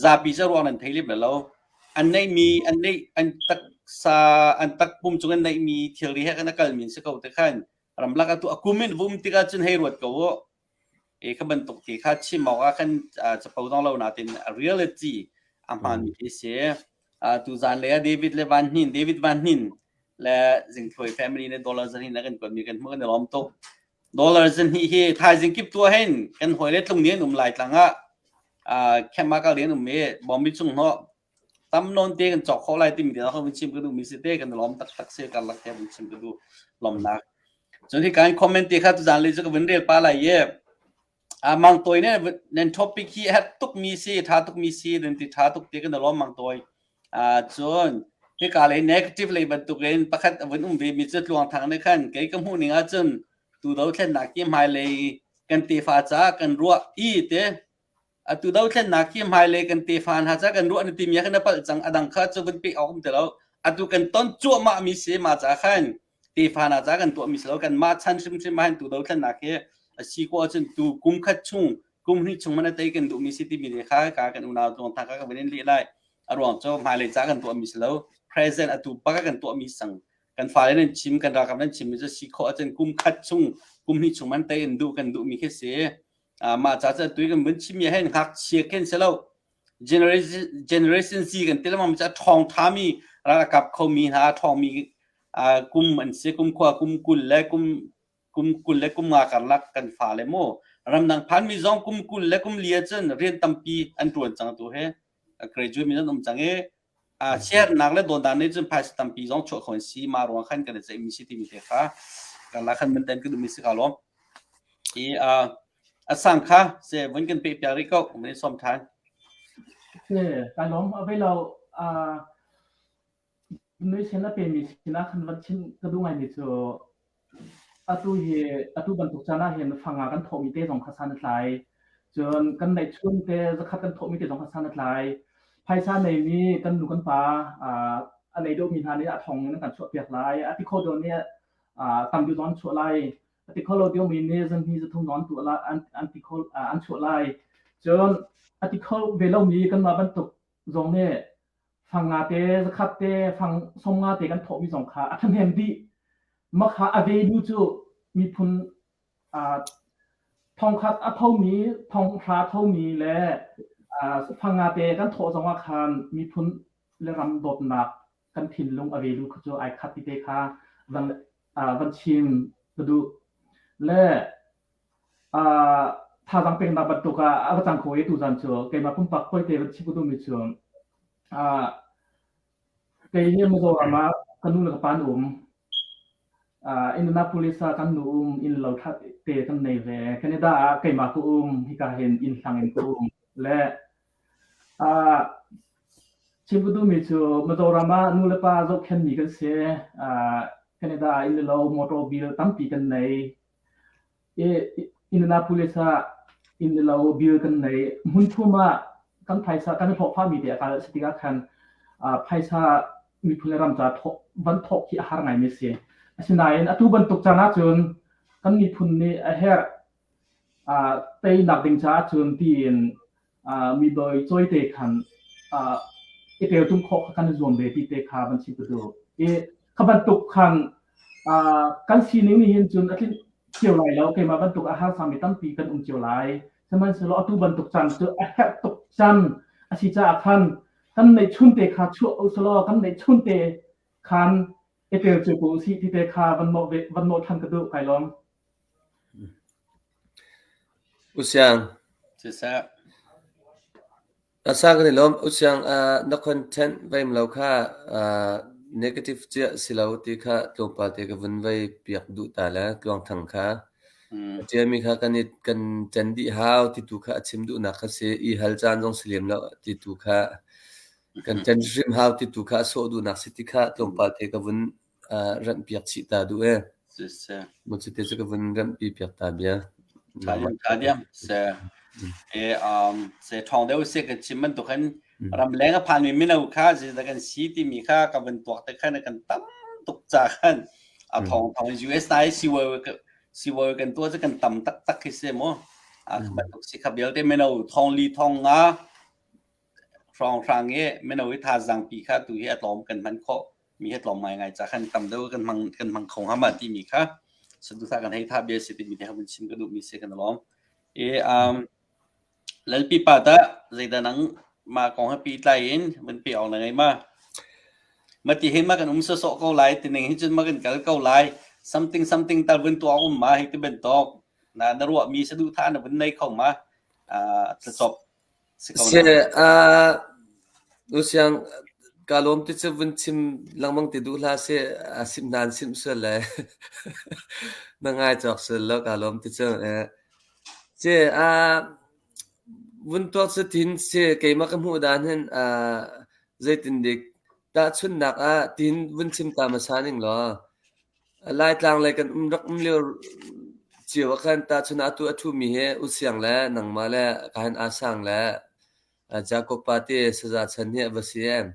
zapi ca ruang nan thei lip lo an nei mi an nei an taksa an takpum chung an nei mi thilri he kan akal min se ko te khan ramlak atu akumin vum tika cun hei ruat ko Ke ka bantuk ti kha chim awkah kan capo dong lo nain reality a hmaanmi khi si. Tuzaan lei ah David le Van Hnin, David Van Hnin le Zingthuai family nih dollar zan hi na kan kuatmi kan hmuh kan i lawm tuk. Dollar zan hi hi thaizing kip tu hin kan hawi le tlung ni an um lai tlang ah khemak al li an um i Bombi chung hnawh tam nawn te kan cawk kho lai timi te zong vun chim ka duhmi si te kan i lawm taktak si karlak te vun chim ka duh lawmnak cun hi kan comment te kha tuzan le chu ka vun rel pa lai ye a mang toy ne nan topic hi hat tuk mi si tha tuk mi si nan ti tha tuk te kan lawm mang toy a cun hi ka le negative le bantuk in pakhat vun um ve mi chu tluang thang ne khan kei ka mu ning a cun tu do thlen na ki mai le kan te fa cha kan ruwa i te Atu dothlennak hi hmailei kan tefa hna ca kan ruah na timi ah khin na palh cang a dang kha cu vun pek awk um ti lo atu kan ton cuahmah mi si ma ca khan tefa hna ca kan tuah mi si lo kan mah chan hrimhrim ah hin tu dothlennak hi a si ko ahcun tu kum khat chung kum hnih chung mana tei kan duh mi si timi le kha ka kan unau tuang tha ka kan vin leh lai a ruang cu hmailei ca kan tuah mi si lo present atu pa ka kan tuah mi sang kan fale nan chim kan rakam nan chim mi cu si kho ahcun kum khat chung kum hnih chung man tei in duh kan duh mi khi si mah ca cu atu kan vun chim hi hen ngakchia khen si lo generation z kan ti lemang ca ṭhawng ṭhami ralkap khomi hna ṭhawngmi kum an si kum khua kum kul le kum kum kul le kum nga karlak kan fale mu ramdang phanmi zong kum kul le kum li ahcun rian tampi an ṭuan cang tu hi graduate mi nan um cang i Siarnak le dawtnak nih cun phaisa tampi zong chuah kho an si. Mah ruang khan kan i ceihmi si timi te kha karlak khan manten kan duhmi si kaa lawm. I uh, a sang kha se vun kan peh piak rih ko, kan i sawm ṭhan. Ne, ka lawm avei lo uh, nui sin a pemi sinah khan van chin ka duh ngaimi cu Atu bantuk caan ahhin fang ah kan thawhmi te zong kha san a tlai. Cun kan neihchun te zakhat kan thawhmi te zong kha san a tlai. Phaisa neimi kan nu kan pa a nei deuhmi hna nih a thawng in kan chuahpiak lai. A ti kho deuh nih tam deuh zong an chuah lai. A ti kho lo deuhmi nih zanhni zathum zong an tuah lai, an chuah lai. Cun a ti kho ve lomi kanmah bantuk zong nih Fang nga te, zakhat te, fang som nga te kan thawhmi zong kha a ṭhahnem dih. Makha a vedu cu miphun uh, thongkhat a thomi, thonghra thomi le uh, fang nga te kan thawh zongah khan miphun le ram dawtnak kan thinlung a velu kha cu ai khat ti te kha van, uh, van chim ka duh. Le Thazaang peknak bantuk ah a va cang kho i tuzaan cu keimah pumpak poite van chim ka duhmi cu kei hi Mizoram ah ka nu le ka pa an um. Indianapolis ah kan nu um, innlo ṭha te kan nei ve. Canada ah keimah ka um, hika hin innhlang in ka um. Le chim ka duhmi cu Mizoram ah nu le pa zohkhenmi kan si. Canada ah inn le lo, motor, bil tampi kan nei. Indianapolis ah innlo bil kan nei. Hmun thum ah kan phaisa kan i thokphami te a kal si tikah khan phaisa miphun le ram ca van thok hi a har ngaimi si. Asinain atu bantuk caan ahcun kan miphun nih a herh teinak ding caah cun tiin mibawi cawite khan i teltum khawh kha kan zuam ve ti te kha van chim tu i kha bantuk khan kan sining nih hin cun a tlin cio lai lo keimah bantuk a har sami tampi kan um cio lai sihmanhsehlaw atu bantuk can cu a herh tuk can a si caah khan kan neih chun te kha chuah usalaw kan neih chun te khan i tel cu ko si ti te kha van mawh ve van mawh than ka duh kai lawm Na sa kan i lawm. Usiang na content veimlo kha negative ciah si lo ti kha tlawmpal te ka vun vei piak duh ta le tluangthang kha. A ṭialmi kha kan i kan ṭan dih hau ti tu kha a chim duhnak kha si. I hal caan zong si lem lo ti tu kha kan ṭan hrim hau ti tu kha a sawh duhnak si ti kha tlawmpal te ka vun Ranhpiak chih ta duh ee. Maw cu te cu ka vun ranhpi piak ta bia. Se thong deu se kan chim man tukan ramleng a phan mi mino kha je da kan si ti mi kha ka vun tuak te khan kan tam tuk cha khan a thong thong US nai siwai kan tua kan tam tak tak hi se mo a khat tuk si kha bial te mino thong li thong nga Hrawnghrang i mino i thazaang pi kha tu hi a tlawm kan hman khawh. Mi hi a tlawm ngaingai caah khan tam deuh kan hmang, kan hmang kho hnga ma timi kha saduhthah kan hei thah bia a si timi te kha vun chim ka duhmi si kan i lawm. I um, Lalpipa tah zeidah nang mah kong he pehtlai in vun peh awk na ngei ma? Ma ti hin ma kan um sawsawh ko lai, tining hi cun ma kan kal ko lai. Something something tal vun tuah awk um ma hei ti bantuk. Na, na ruahmi saduhthah na vun nei kho ma? Uh, tlucop. Nusiang kaa lawm ti cu vun chim lengmang ti duh hlah sih. A simh nan simh sual le na ngai cawk sual lo kaa lawm ti cu. Ci vun tuak cu ti'n si keimah ka hmuh dan hin zeitindik tahchunhnak ah ti'n vun chim ta hmasa ning law. Laitlang lei kan um rak um lio cio ah khan tahchun atu a ṭhumi hi U Siang le nangmah le Kahin Aung Sang le Jacob Party saza chan hi a va si em?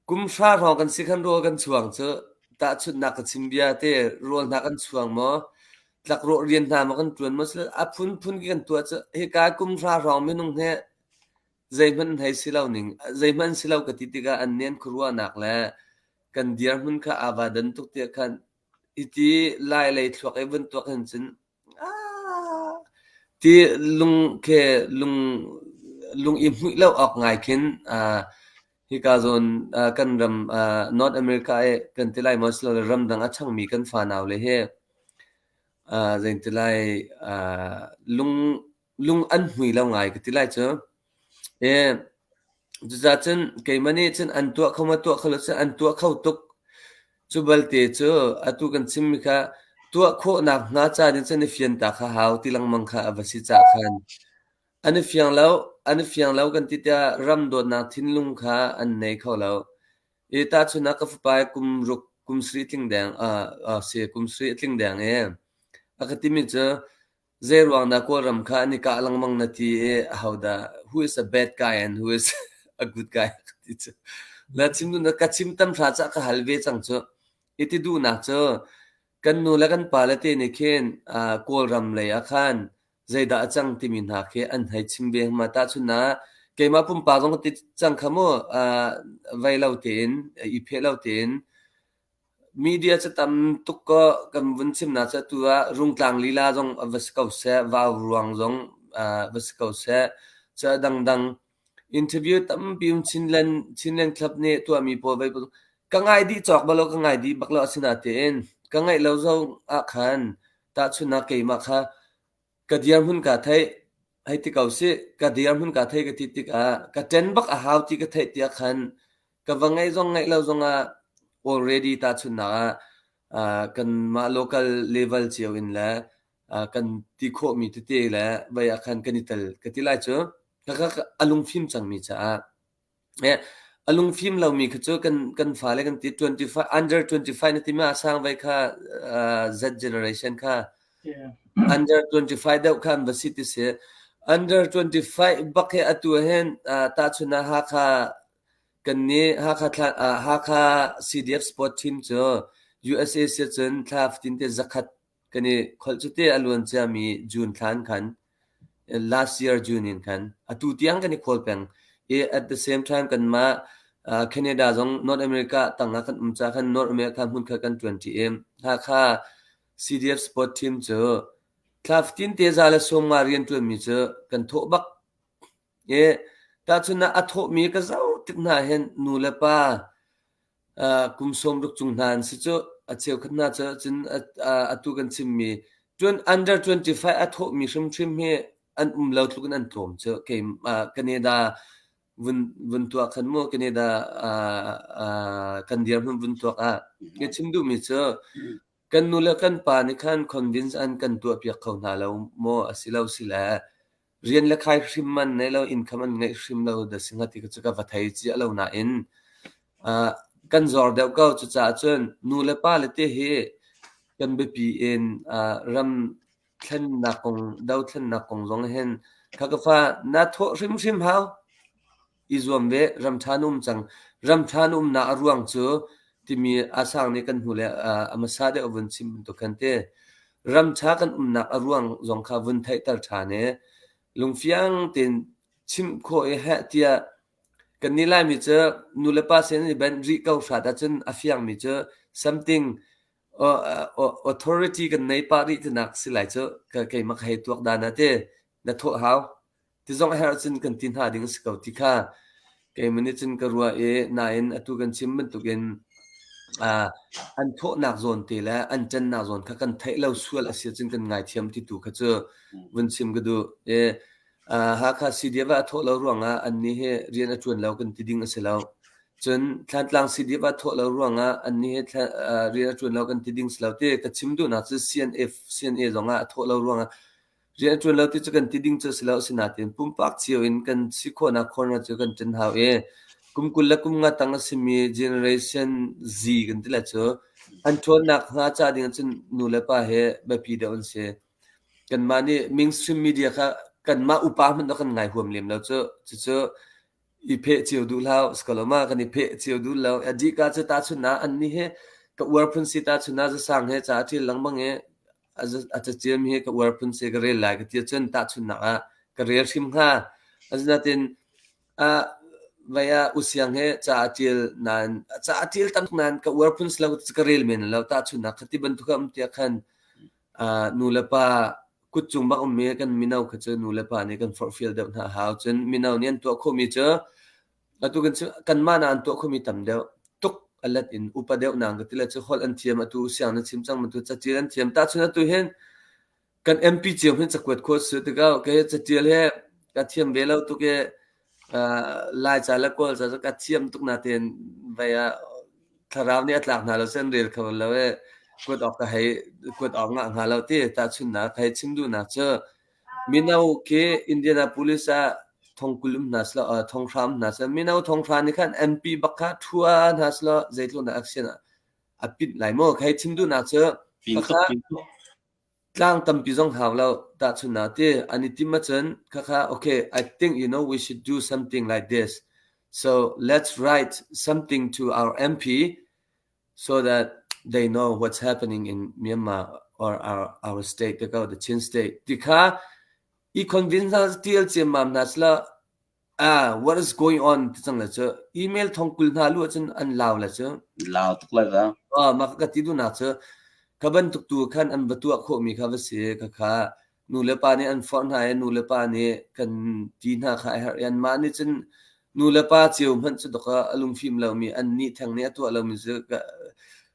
Kum hra hrawng kan si khan rawl kan chuang cu tahchunhnak ka chim bia te rawl hna kan chuang maw? Tlakrawh rian hna maw kan ṭuan maw? A phunphun ki kan tuah cu hika kum hra hrawng minung hi Zeihmanh si lo ka ti tikah an nen khuaruahnak le kan dirhmun kha aa vadan tuk tiah khan hiti lai lei thluak ei bantuk hin cun "Aaaa!" ti lung khe lung lung i hmuih lo awk ngai khin ah, hika zawn ah kan ram ah North America i kan ti lai maw silole ramdang a changmi kan fanau le hi ah, zeiti lai, ah lung lung an hmui lo ngai ka ti lai cu. E, cucaah cun keimah nih cun an tuah kho maw tuah kho lo cun an tuah kho tuk. Cu balte cu atu kan chimmi kha tuah khawh nakhnga caan in cun i fiantak a hau ti lengmang kha a va si cah khan. An i fiang lo, an i fiang lo kan ti tiah ram dawtnak thinlung kha an nei kho lo. E tahchunah ka fapa i kum ruk kum sarih tling deng, uh, uh, si, kum sarih a tling deng i a ka timi cu Zeiruang dah Kawlram kha an i kah lengmang na ti i ahodah who is a bad guy and who is a good guy ti cu. La chim na ka chim tam hra cah ka hal ve cang cu. I ti duhnak cu kan nu le kan pa le te nih khin uh, Kawlram lei ah khan zeidah a cang timi hna khi an hei chim ve hma ta chun na keimah pumpak zong ti cang kha mu uh, vei lo tein i phe lo tein Media cu tam tuk kaw kan vun chimnak cu atu ah rungtlang lila zong a va si ko seh, vau ruang zong va si ko seh. Cu a dangdang. Interview tampi um Chinland, Chinland Club nih a tuahmi pawl vei pawl ka ngai dih cawk bal lo, ka ngai dih bak lo. Asinain ka ngeih lo zong ahkhan tahchunhnak keimah kha Ka dirhmun kaa theih. Hei ti ko sih, ka dirhmun kaa theih ka ti tikah ka ṭen bak a hau ti ka theih tiah khan ka va ngaih zong ngaih lo zongah already tahchunhnak ah ah kanmah local level cio in le ah kan ti khawhmi tete le vei ah khan kan i tel ka ti lai cu. Khakha a lungfim cangmi caah. A lungfim lomi khi cu kan fale kan ti twenty five under twenty five na timi a sang vai kha Z generation kha under twenty five deuh kha an va si ti si. Under twenty five bak hi atu hen tahchun ah Hakha kan nih Hakha Hakha CDF Sport Team cu USA si cun thla fatin te zakhat Kan i kholh cute a luan ciami June thlaan khan, last year June in khan, atu tiang kan i khawl peng i at the same time kanmah uh, Canada zong North America tangah kan um ca khan North America hmunkhat kan tuanṭi i Hakha CDF support team cu thlaftin teza le sawmnga rian ṭuanmi cu kan thawh bak i tahchun ah a thawhmi ka zau tik hna hin nu le pa kum sawm ruk chung hna an si cu. A cheukhat hna cu cun atu kan chimmi under 25 a thawhmi hrimhrim hi an um lo tluk in an tlawm cu. Canada vun tuah khan mu, Canada kan dirhmun vun tuak ah. Hi chim duhmi cu kan nu le kan pa nih khan convince an kan tuahpiak kho hna lo maw? A si lo si le rian le khai hrim man nei lo, income an ngeih hrim lo da si hnga ti cu ka va thei cia lo nain uh, kan zor deuh ko cucaah cun nu le pa le te hi kan biapi in uh, ram thlennak kong do thlennak kong zong hin khakafa na thawh hrimhrim hau I zuam ve, ram ṭha na um cang. Ram ṭha na umnak a ruang cu timi Asang nih kan hnule a hmasa deuh a vun chim bantuk khan ti. Ram ṭha kan umnak a ruang zong kha vun theihter ṭhan i lungfiang tein chimh khawh i heh tiah kannih Laimi cu nu le pa sin i benh rih ko hrat ahcun a fiangmi cu something authority kan nei pah rih tinak si lai cu keimah ka hei tuak dan ah ti na thawh hau. Tizong a herh cun kan ti hna ding a si ko ti kha keimaw nih cun ka ruah i nain atu kan chim bantukin uh, an thawhnak zawn te le an ṭannak zawn kha kan theih lo sual a si cun kan ngaithiam ti tu kha cu vun chim ka duh. E, uh, Hakha CDF a thawh lo ruangah annih hi rian a ṭuan lo kan ti ding a si lo. Cun Thlantlang CDF a thawh lo ruangah annih hi uh, rian a ṭuan lo kan ti ding si lo ti ka chim duhnak cu CNF CNA zongah a thawh lo ruangah Rian a ṭuan lo ti cu kan ti ding cu a si lo. Asinain pumpak cio in kan si khawhnak corner cu kan ṭan hau i kum kul le kum nga tang a simi generation Z kan ti le cu an ṭhawn nakhnga ca ding ahcun nu le pa hi biapi deuh an si. Kanmah nih mainstream media kha kanmah upa hmanh a kan ngai huam lem lo cucu. Cucu I pheh cio duh hlah uh, sikalawma kan i pheh cio duh lo. A dih ka cu tahchun ah anni he ka uar phun si tahchun ah zasang he ca a ṭil lengmang i a za- a caciem hi ka uar phun si ka rel lai ka ti cun tahchun nak ah ka rel hrim hnga. Asinain ah vai ah usiang he ca a ṭil nain ca a ṭil tam nain ka uar phun si lo ka rel men lo tahchun nak khati bantuk a um tiah khan nulepa kutcung bak ummi kan mino kha cu nulepa nih kan forhfial deuh hna a hau. Cun mino nih an tuah khawhmi cu atu kan cu kanmah na an tuah khawhmi tam deuh tuk a let in upa deuh nang ka ti le cu holh an thiam atu siang na chim cang atu cacil an thiam tahchun atu hin kan MP cio hin cakuat khawt su tikau ke cacil he ka thiam ve lo tuk i Laica le Kawl ca cu ka thiam tuk natein vei ah thlarau nih a tlak hna lo sen rel kho lo i kuat awk ka hei kuat awk ngah hnga lo ti tahchunhnak hei chim duhnak cu mino khi Indianapolis ah thongkul um hna selaw uh, thonghra um hna selaw mino thonghra nih khan MP bak kha thua hna selaw zeitluk na action a pit lai maw hei chim duhnak cu pin tuk pin tuk Tlang tampi zong hau lo. Tahchun ah ti an i tim ahcun khakha okay, I think you know we should do something like this. So let's write something to our MP so that they know what's happening in Myanmar or our our state, the Chin state. Ti kha i convince hna tial cem mam hna sila What is going on ti cang le cu email thongkul hna luh ahcun an lau le cu lau tuk lai va. Mah ka ti duhnak cu ka bantuk tu khan an va tuah khawhmi kha va si khakha nu le pa nih an forh hna i nu le pa nih kan ti hna kha a herh i anmah nih cun nu le pa ceu hmanh cu dawk a lungfim lomi an nih theng nih a tuah lomi cu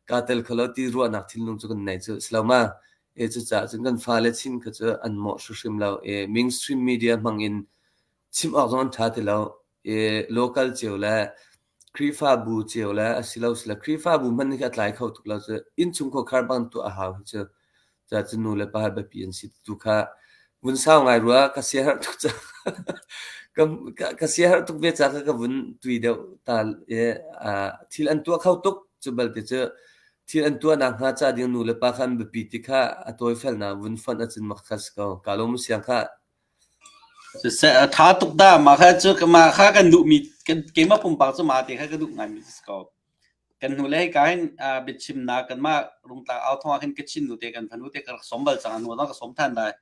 kaa tel kho lo ti ruahnak thinlung cu kan nei cu si lo ma. Cucaah cun kan fale chin kha cu an mawh hrimhrim lo i mainstream media hmang in Chim awk zong an ṭha ti lo. I local cio le Khrihfabu cio le asilosile Khrihfabu hmanh nih khi a tlai kho tuk lo cu. Innchung khuakhar bantuk a hau hi cu. Cucaah cu nu le pa hi biapi an si tu kha vun sau ngai rua. Ka siaherh tuk cang. ka- ka- ka siaherh tuk ve ca kha ka vun tui deuh ta i aa thil an tuah kho tuk. Cu balte cu thil an tuahnak hnga ca ding nu le pa kha an biapi ti kha a tawifel nak vun fonh a cin mak kha a si ko. Ka lawm a siang khah. Siseh a tha tuk dah. Mah kha cu mah kha kan duhmi keimah pumpak cu mah te kha ka duh ngaimi a si ko. Kan hnule hika hin aa biachimnak kanmah rungtlang au thawng ah khin ka Chin nute kan fanu te ka rak sawm bal cang. A hnu zong ka sawm than lai.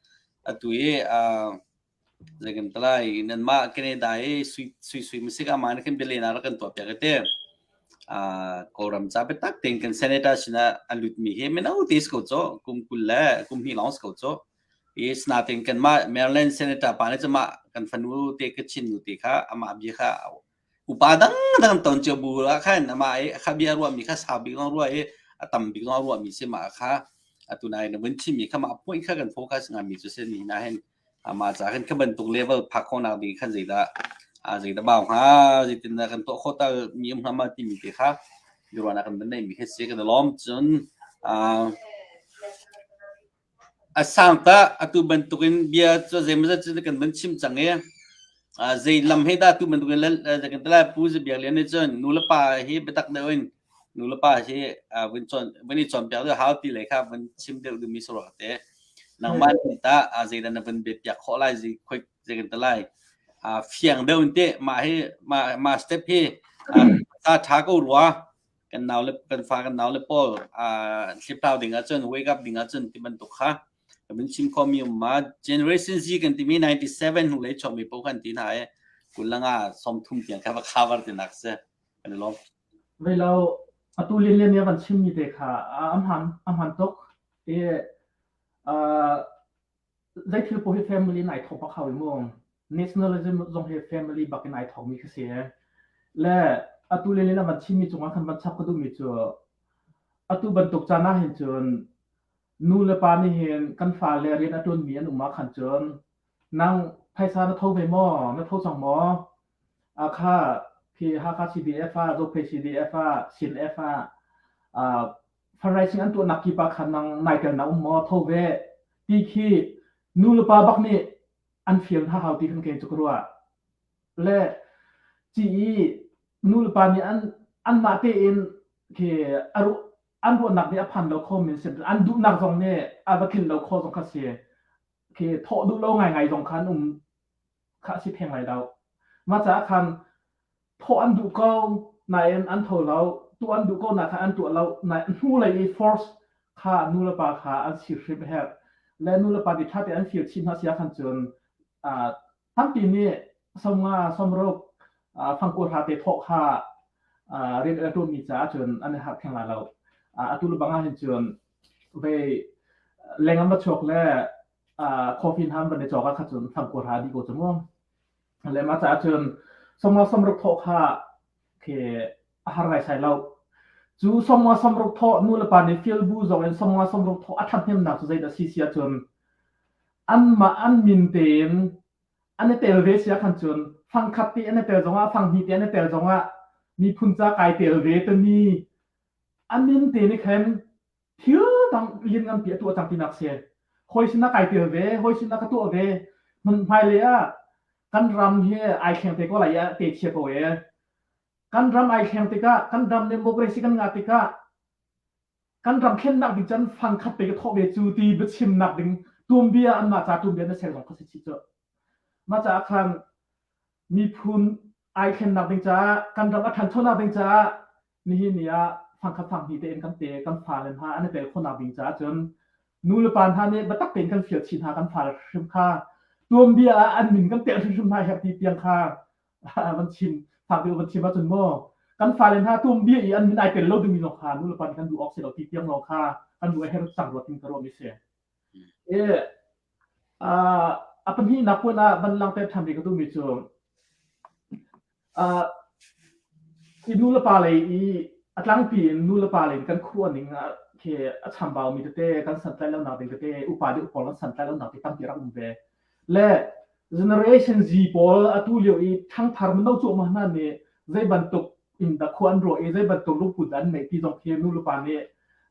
Atu hi aa zei kan ti lai nanmah Canada i suisui masik ah mah nih khin bialenak rak kan tuahpiak i ti. Aa Kawlram ca biatak tein kan senator sinah a lutmi hi mino te si ko caw. Kum kul le kum hnih lawng si ko caw. Yes, natin kanmah Maryland senator pa nih cumah kan fanu te ka chin nu te kha amah bia kha upa dangdang an ton cio bu la khan amah i kha bia ruah mi kha sau bik long ruah i a tam bik long ruah mi si ma kha atu nai na mun chim mi kha ma point kha kan focus ngam mi chu se ni na hen ama cha khan khaban tuk level phak khon nak ding khan zeida a zeida baw ha zitin da kan to khota mi um hama ti mi te kha biruana kan ban nei mi he se kan lom chun a A sang tah atu bantukin bia cu zeimawzat cu kan van chim cang i zei lam he dah atu bantukin kan ti lai. Pu Zabia Lian nih cun nulepa hi biatak deuh in nulepa hi van i cawnpiak deuh a hau ti lei kha van chim deuh dingmi si rua te. Nangmah nih tah zeidah na van biapiak khawh lai, zei kan ti lai. Fiang deuh in teh mah hi mah step hi sa ṭha ko rua. kan nau le kan fa kan nau le pawl uh, hlipplau ding ahcun wake up ding ahcun ti bantuk kha kamin chim khomi um ma generation z kan timi 97 hnulei chawmi po kan ti hna e kulanga somthum tiang kha va cover ti nak se kan lo velo atu linlen ya kan chimmi te kha am ham am ham tok e uh, Zeithil poh hi family in ai thawk bak hau i mu. Nationalism zong hi family bak in ai thawkmi khi si e. Le atu le le na van chimmi cungah khan van chap ka duhmi cu atu bantuk caan ah hin cun nu le pa nih hin kan fale rian a ṭuanmi an um ah khan cun nang phaisa na tho ve maw? Na tho cang maw? A kha khi Hakha CDF ah, Zophei CDF ah, Sin F ah, ah Faraising an tuahnak kip ah khan nang nai tel na um maw? Tho ve ti khi nu le pa bak nih an fial hna hau ti kan kei cu ka ruah. Le ci i nu le pa nih an an mah tein khi an ruahnak nih a phan lo kho min si an duhnak zong nih a va tlin lo kho zong kha si khi thawh duh lo ngai ngai zong khan um kha si theng lai lo ma caah khan thawh an duh ko nain an tho lo tuh an duh ko nak kha an tuah lo na hnu lei i force kha nu le pa kha an sir hrim a herh le nu le pa ti ṭha te an fir chin hna sia khan cun tampi nih somnga somruk fangku hla te thawh kha rian el ṭun mi caah cun an i harh theng la lo atu le bangah hin cun vei lengam va chuak le coffee ham van i chawka kha cun fangku hla di ko ca mu le mah caah cun somnga somruk thawh kha khi a har ngai sai lo cu somnga somruk thawh nu le pa nih feel bu zong in somnga somruk thawh a ṭhathnemnak cu zeidah si sia cun anmah an min tein an i tel ve sia khan cun fangkhat te an i tel zongah fanghnih te an i tel zongah miphun ca kai tel ve tani a min te nih khan thil dang lian nganpi a tuah cang tinak si. Hawi sinah kai tel ve, hawi sinah ka tuah ve. Hmun hmailei ah kan ram hi ai thleng te ko lai ah te chia ko e. Kan ram ai thleng tikah, kan ram democracy kan ngah tikah, kan ram thlennak ding can fangkhat te ka thawh ve cu ti biachimnak ding tumbia an mah ca tumbia na ser zong ka si chi cu. Ma caah khan miphun ai thlennak ding caah, kan ram a thanchonak ding caah Nihin ni ah fangkhat fang hnih tein kan te, kan fale hna an i tel khawhnak ding caah cun nulepa hna nih biatak tein kan fial chih hna kan fale hrimhrim kha tuanbia ah an min kan teh hrimhrim hna herh ti tiang kha van chim fak deuh van chim ahcun maw kan fale hna tuanbia i an min ai tel lo dingmi lawng kha nulepa nih kan duh awk si lo ti tiang lawng kha kan duh a her cang ruat in ka ruam i si. E, a pahnih nak puan ah van langte ṭhan ve ka duhmi cu Hi nulepa lei i a tlangpi in nulepa lei in kan khuaruah ning ah khi a chambaumi tete kan santlaih lonak ding tete upa le upa kan santlaih lonak ding tampi rak um ve. Le Generation Z pawl atu lio i ṭhangthar mino cuahmah hna nih zei bantuk in dah khua an ruah i zei bantuk lungput dah an neih ti zong khi nulepa nih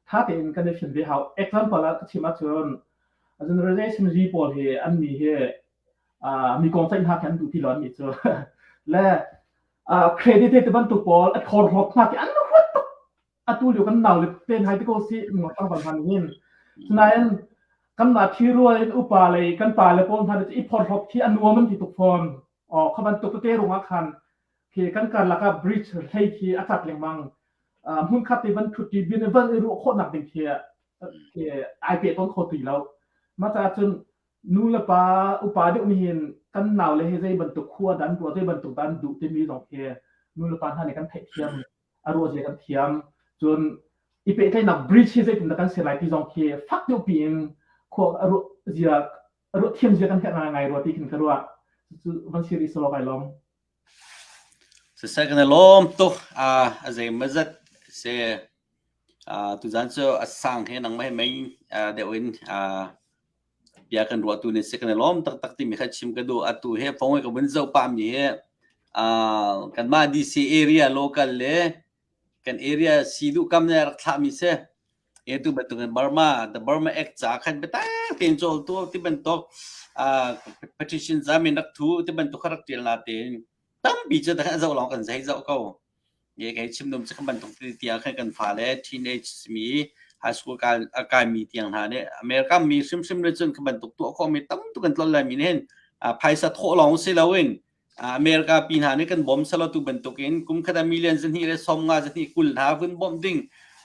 ṭha tein kan i hrin ve hau. Example ah ka chim ahcun Generation Z pawl hi annih hi mi kong ceih hna khe an duh ti loan mi cu le credit te bantuk pawl a thor hlop hna ke an huat tuk atu liu kan nau le ten hai te ko si mo sang bal han hin nain kan na thi rual upa le kan pa le pawl hna le i phor hlop thi anuam an ti tuk phon o kha ban tuk te runga khan khi kan kan laka bridge hlei khi atat lengmang mun khat ti ban thuti bin van ru kho nak ding khi khi ai pe ton kho tui lo ma ta chun nu le pa upa deuh nih hin kan nau le hi zei bantuk khua dan tuah zei bantuk dan duh timi zong hi nu le pa hna nih kan theih thiam a ruah zia kan thiam cun i pehtlaihnak bridge hi zeitin dah kan ser lai ti zong khi fak deuh piin khua zia ruah thiam zia kan herh ngai ngai rua ti khin ka ruah cu van sir i solo kai lom Siseh kan i lawm tuk. A zeimawzat asi. Tuzaan cu a sang hi nangmah he mei deuh in bia kan ruahtu nih a si. Kan i lawm taktak timi kha chim ka duh. Atu hi phung hi ka vun zoh pah mi hi kanmah DC area local le kan area si duh kam le rak thlah mi si e tu bantuk in Burma the Burma Act ca khan biatak tein cawl tu ti bantuk uh, petition zamin rak thu ti bantuk rak tial na te tampi cu ta zo long kan zai zo ko ye kai chim dum chu kan bantuk ti tia khan kan fa le teenage mi high school ka kai mi tiang na ne America mi sim sim le chun kan bantuk tu ko mi tam tu kan tlol lai mi nen phaisa tho long si lo in America pi hna nih kan bawm salo tu bantukin kum khat ah million zahnih le sawmnga zahnih kul hna vun bawmh ding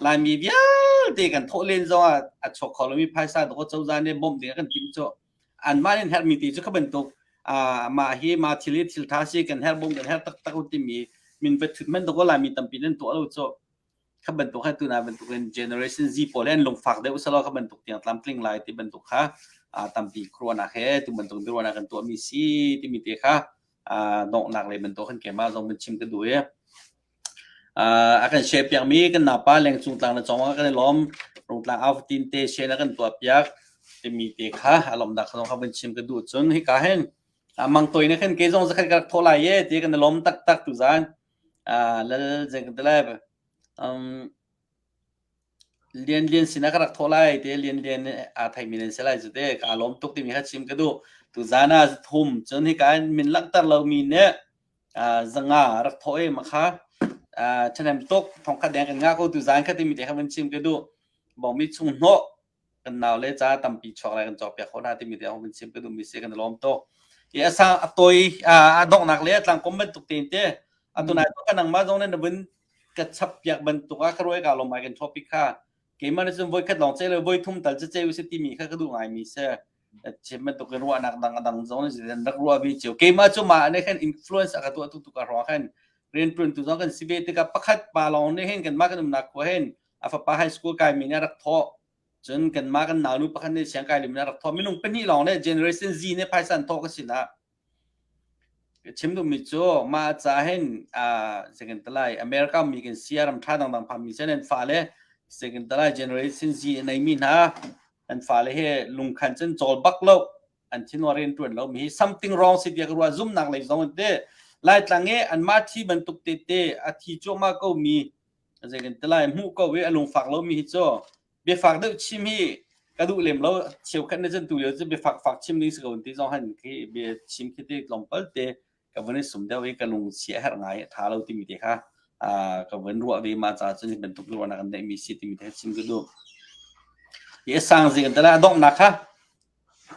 Laimi vialte kan thawh len zongah a chuak kho lomi phaisa dawh cozah nih bawmh ding a kan timh cu anmah nih herhmi ti cu kha bantuk mah hi mah thil hi thil tha si kan herh bawm kan herh taktak u timi min va thut man dawh Laimi tampi nan tuah lo cu kan bantuk khan tuna bantuk in generation Z pawl hen lungfak deuh selaw kan bantuk tiang tlamtling lai ti bantuk kha tampi khuanak he tu bantuk biruana kan tuah mi si timi te kha donghnak le bantuk kan kema zong ban chim ka du e a kan share piak mi kan napa leng cung tlang na chong kan lom rung tlang auf tin te she na kan tuah piak timi te kha alom da khong kha ban chim ka du chun hi ka hen mang toi na khan ke zong zakhat ka thola ye ti kan lom tak tak tu zan Lal Zengtelep Lianlian sinah ka rak thawh lai ti Lianlian nih aa theimi nan si lai cu te ka lawm tuk timi kha chim ka duh. Tuzaan ah thum cun hika in min langhter lomi nih zanga rak thawh i makha ṭhahnem tuk thongkhat deng kan ngah ko tuzaan kha timi te kha van chim ka duh. Bawmmi chung hnawh kan nau le ca tampi chuak lai kan cawpiak khawh hna timi tiang hun chim ka duhmi si kan i lawm tuk i a sang a toi a donghnak le a tlangkom bantuk te te a tunai tu kan nangma zong ne na vin ka chap piak bantuk a ka roi ka lom ai kan topic kha keimah ne cun voi khat long che le voi thum tal che che u si timi kha ka duh ngai mi se chim bantuk in ruah nak dang dang zong ne zan rak ruah vi chiu keimah cu ma ne khan influence aka tu tu tu ka ro khan rian tun tu zong kan si ve tikah pakhat pa long ne hen kan ma kan umnak ko hen a fapa high school kai mi nih rak thawh cun kan ma kan nau nu pakhat nih siang kai lim rak thawh minung pahnih lawng le generation Z ne phaisa an thawh ka si na chim duh mi cu ma ca hen second talai america mi kan sia ram tha dang dang pham mi sen en fa le second talai generation Z nei mi na an fa le he lung khan chen chol bak lo an thin warin tuan lo mi something wrong si bia ruwa zum nak lei zong te lai tlange an ma thi ban tuk te te a thi cho ma ko mi zeikantilai hmuh ko i a lungfak lomi hi cu biafak deuh chim hi ka duh lem lo cheu khat na chan tu lio cu biafak fak chim ding si ko ti zong han khi bia chim khi ti tlawmpal te ka vun i sum deuh i ka lung chia har ngai tha lo timi te kha ka vun ruah ve ma ca cun bantuk ruah nak an dei mi si timi te chim ka duh i sang zi kan tala dong nak kha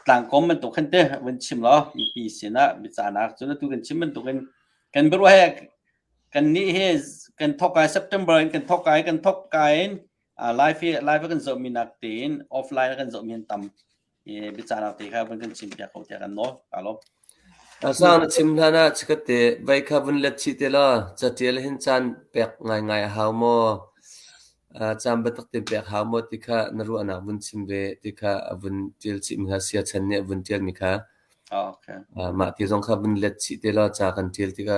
tlangkom bantuk khan te vun chim lo mipi sin ah bicanak cun tu kan chim bantuk in kan biaruah he Kannih hi kan thok kai September in kan thok kai kan thok kai in uh, live hi live kan zohmi nak tiin offline kan zohmi an tam i biacanak te kha van kan chim piak ko tiah kan nawl alo Asang na chim hlan ah chikate vai kha vun let chi te lo chatial hin chan pek ngai ngai a hau mo cham batak te pek hau mo ti kha na ru anak vun chim ve ti kha vun tial chi mi kha sia chan ne vun tial mi kha okay ma ti zong kha vun let chi te lo cha kan tial ti kha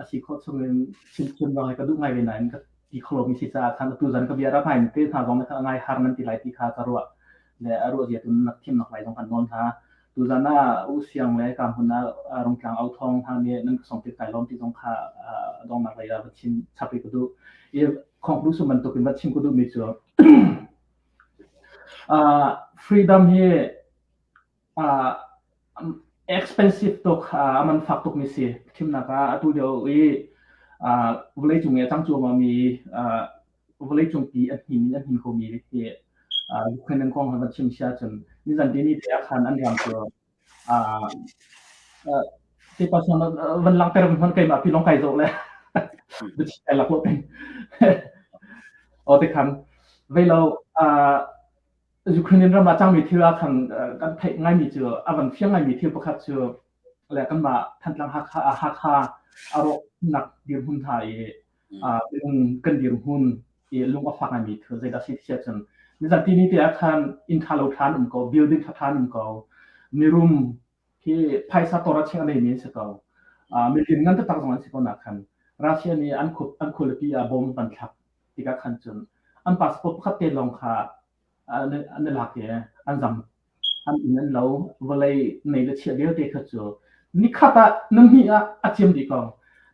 a si khawh chungin chimchim zong ka duh ngai ve nain ka ti kho lomi si caah khan atu zan ka bia ram hain te hna zong kha ngai har nan ti lai ti kha ka ruah le a ruah zia tun nak thim nak lai zong kan nawn hna tu zan a u siang le ka hun a rong tlang au thong hna ne nan ka song tit kai lom ti zong kha dong nak lai la va chin chapi ku du i khong lu suman tukin va chim ku du mi chu freedom hi expensive tuk a man fak tukmi si thimnak ah atu lio i vawleicung i a cang cuahmahmi vawleicung pi a hnim in a hnim khomi hi Ukraine an kong van chim si ahcun nizan dini te ah khan an ram cu ti pasang van lang ter hman keimah pi long kai zo le bichai lak lo pin o te khan velo Ukraine ram ah cangmi thil ah khan kan theih ngaimi cu a kan fiang ngaimi thil pakhat cu le kanmah Thantlang Hakha Hakha a rawhnak dirhmun hna i minung kan dirhmun i lung a fak ngaimi thil zeidah si ti ahcun nizan tini te ah khan inn tha lo thla an um ko building tha tha an um ko mirum hi phaisa tor a chek leimi an si ko. Uh, milin ngan taktak zong an si ko nak khan Russia nih an khul an khulipi ah bomb an thlak tika khan cun an passport pakhat te long kha an ne lak ye an zam an in an lo vawlei nei le chia vialte kha cu nikhata nangni ah a chiam di kong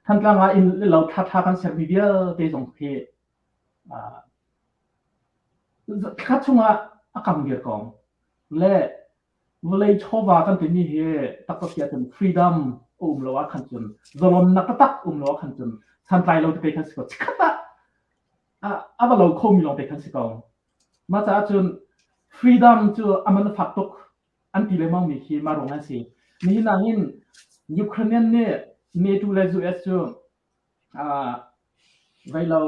thantlang ah in le lo tha tha kan ser mi vialte zong khi kha chung ah a kang dir kong le Vawlei chawva kan timi hi taktak tia cun freedom a um lo ah khan cun zalonnak taktak um lo ah khan cun santlai lo te kei kan si ko chikkhat ah a va lo khomi lawng te kan si ko mah caah cun freedom cu a man fak tuk an ti le maumi khi ma rong an si nihin ah hin Ukrainian nih NATO le US cu vei lo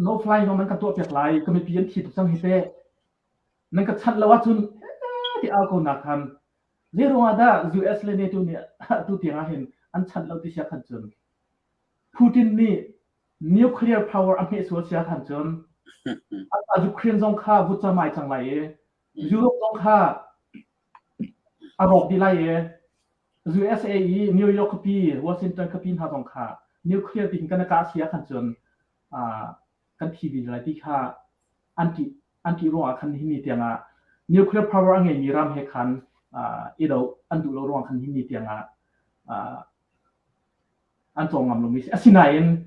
no fly zong nan kan tuah piak lai ka mipi an thi tuk cang hi teh Nan ka chanh lo ahcun ti au ko nak khan zeiruang ah dah US le NATO nih atu tiang ah hin an chanh lo ti sia khan cun Putin nih nuclear power a hmeh sual sia khan cun a Ukraine zong kha vut camai cang lai i Europe zong kha a rawk dih lai i USA i New York kapa Washington kapa hna zong kha nuclear ding kan ka sia khan cun kan thi vin lai ti kha an ti an ti ruang ah khan hi ni tiang ah nuclear power a ngeimi ram he khan i do an duh lo ruang khan hi ni tiang ah an cawng ngam lomi si asinain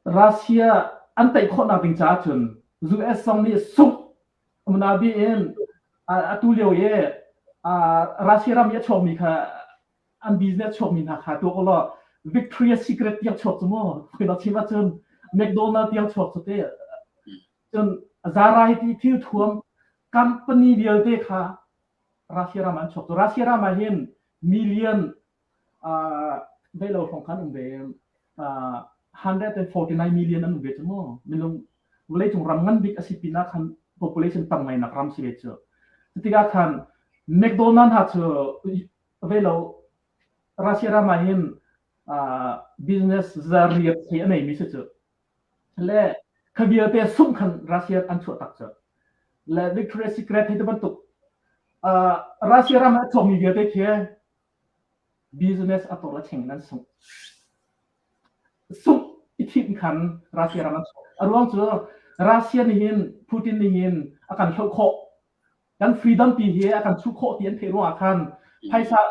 Russia an tei khawhnak ding caah cun US zong nih sungh muna bi in atu lio i Russia ram i a chuakmi kha an business chuakmi hna kha tuak ulaw Victoria Secret tiang chuak cu maw khi chim ahcun McDonald tiang chuak cu te cun variety thil thuam company vialte kha Russia ram an chuak cu Russia ram ah hin million dei lo hrawng khan um ve 149 million an um ve cu maw minung vawleicung ram ngan bik a si pinah khan population tang ngai nak ram si ve cu tikah khan McDonald ha cu Ve lo Russia ram ah hin business zariat hi a neimi si cu le kha vialte sung khan Russia an chuah tak cu le Victoria Secret hi te bantuk Russia ram ah chawmi vialte khi business a tor la cheng nan sung sung i thit khan Russia ram an chuah a ruang cu Russia nih hin Putin nih hin a kan hloh khawh kan freedom pi hi a kan chuh khawh ti an theih ruang ah khan phaisa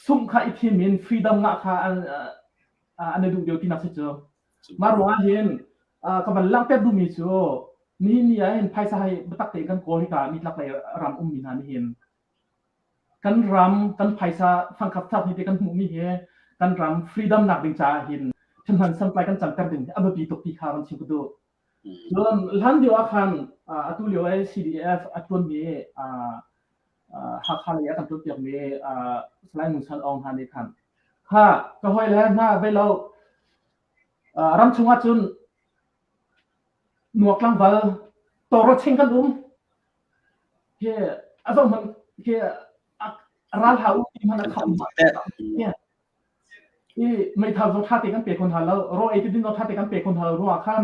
sum kha i thim in freedom ngah kha an an duh deuh tinak si cu mah ruang ah hin ka van langhter duhmi cu nihin ni ah hin phaisa hai biatak tein kan kawl hika mi tlak lei ram ummi hna nih hin kan ram kan phaisa fangkhap chap hi te kan hmuhmi hi kan ram freedom nak ding caah hin thimhan sampai kan canter ding a biapi tuk ti kha van chim ka duh Cun hlanlio ah khan atu lio ah CDF a ṭuanmi Hakha lei a kan ṭuanpiakmi Salai Ngun San Aung hna nih khan kha ka hawile hna bei lo ram chungah cun nuak tlangval tawrawching kan um hi a zohhmanh hi ral hlah u ti hmanh a kham i meithal cu ṭha te kan pe kho hna lo ro ei ti din ro ṭha te kan pe kho hna lo ruangah khan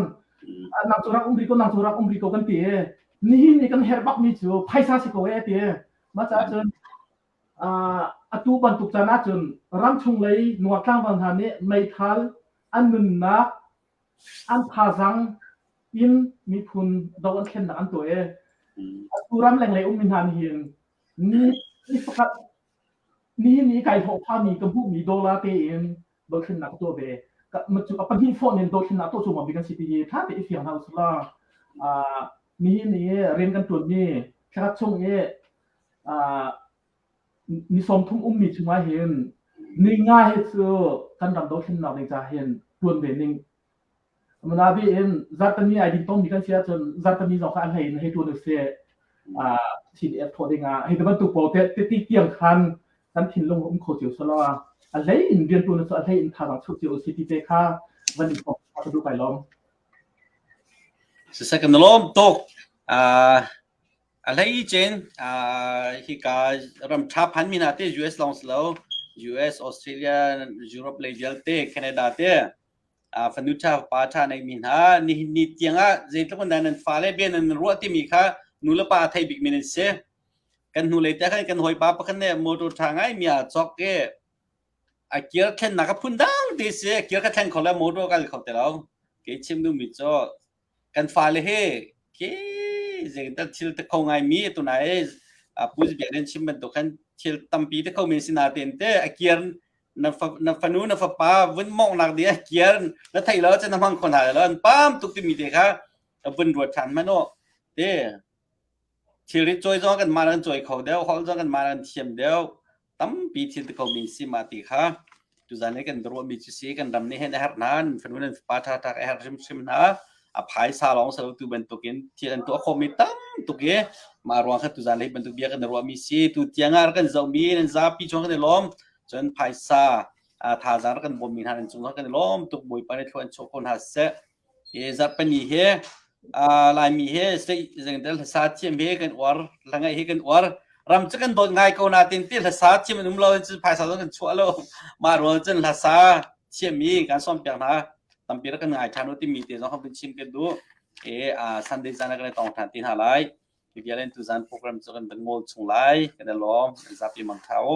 nang cu rak um rih ko nang cu rak um rih ko kan ti i nihin i kan herh bakmi cu phaisa si ko e ti maca cun atu bantuk can ahcun ramchung lei nuak tlangval hna nih meithal an nunnak an thazang in miphun do an thlennak an tuah i atu ram lenglei ummi hna nih hin ni ni pakhat Nihin i kai thawhphami ka hmuhmi dollar tein dothlennak ka tuah ve. A pahnih fawh nen dothlennak tuah cu mabik an si tihi ṭha tein fiang hna usih law. Nihin i rian kan ṭuanmi thlakhat chung i ni sawmthum ummi chung ahhin ni nga hi cu kan ram dothlennak ding caah hin ṭuan ve ning Nabe in Zartami ai din tongmi kan si ahcun Zartami zong kha a hlei in hei tuan usih. Thin ek thawh ding ah hei ti bantuk pawl te ti tiang khan kan thinlung um kho cio selaw a hlei in rian tuan cu a hlei in thazang chuk cio usih ti te kha van in thawk ka du kai lom. Second lom tok a hlei chen hi ka ram thap han mina te US long lo US Australia Europe le vialte Canada te fanu ṭha fapa ṭha neihmi hna nihin ni tiangah zeitluk in dah nan fale bia nan ruah timi kha nu le pa a thei bikmi nan si kan hnulei te khan kan hawipa pakhat nih motor ṭha ngaimi a cawk i a kir thlennak a phun dang ti si kir ka thleng kho le motor ka kho ti lo kei chim duhmi cu Kan fale he ke zein tal thil te kho ngaimi atu nai Pu Biak nih an chim bantuk khan thil tampi te kho men si natein te a kiar na fa, na fanu na fapa vun mawngnak ding a kiar na thei lo cun na hmang kho hna lo an pam tuk timi te kha a vun ruat ṭhan man u te thilri cawi zong kan mah an cawi kho deuh hol zong kan mah an thiam deuh tampi thil te komi si ma ti kha tuzan le kan ruahmi cu si kan ram nih hin a herh nan fanu nan fapa ṭha ṭha ka herh hrimhrim hna a phaisa lawng salo tu bantukin thil an tuah khomi tam tuk i mah ruang kha tuzan lei bantuk bia kan ruahmi si tu tiang ah kan zohmi nan zapi chuang kan i lawm cun phaisa thazaang kan bawmmi hna nan cung kan i lawm tuk bawipa nih thluan chuah ko hna seh Zarhpini he Laimi he zeicahtiah hlasa thiam he kan uar, hlangaih he kan uar. Ram cu kan dawt ngai ko nain ti hlasa thiam an um lo cun phaisa zong kan chuah lo. Mah ruang cun hlasa thiam hi kan sawmpiak hna. Tampi rak kan ngai ṭhan u timi te zong kan vun chim kan duh. Sunday zan ah kan i tong ṭhan ti hna lai. Hi vialte tuzan program cu kan van ngawl chung lai. Kan i lawm. Kan zapi mang ṭha u.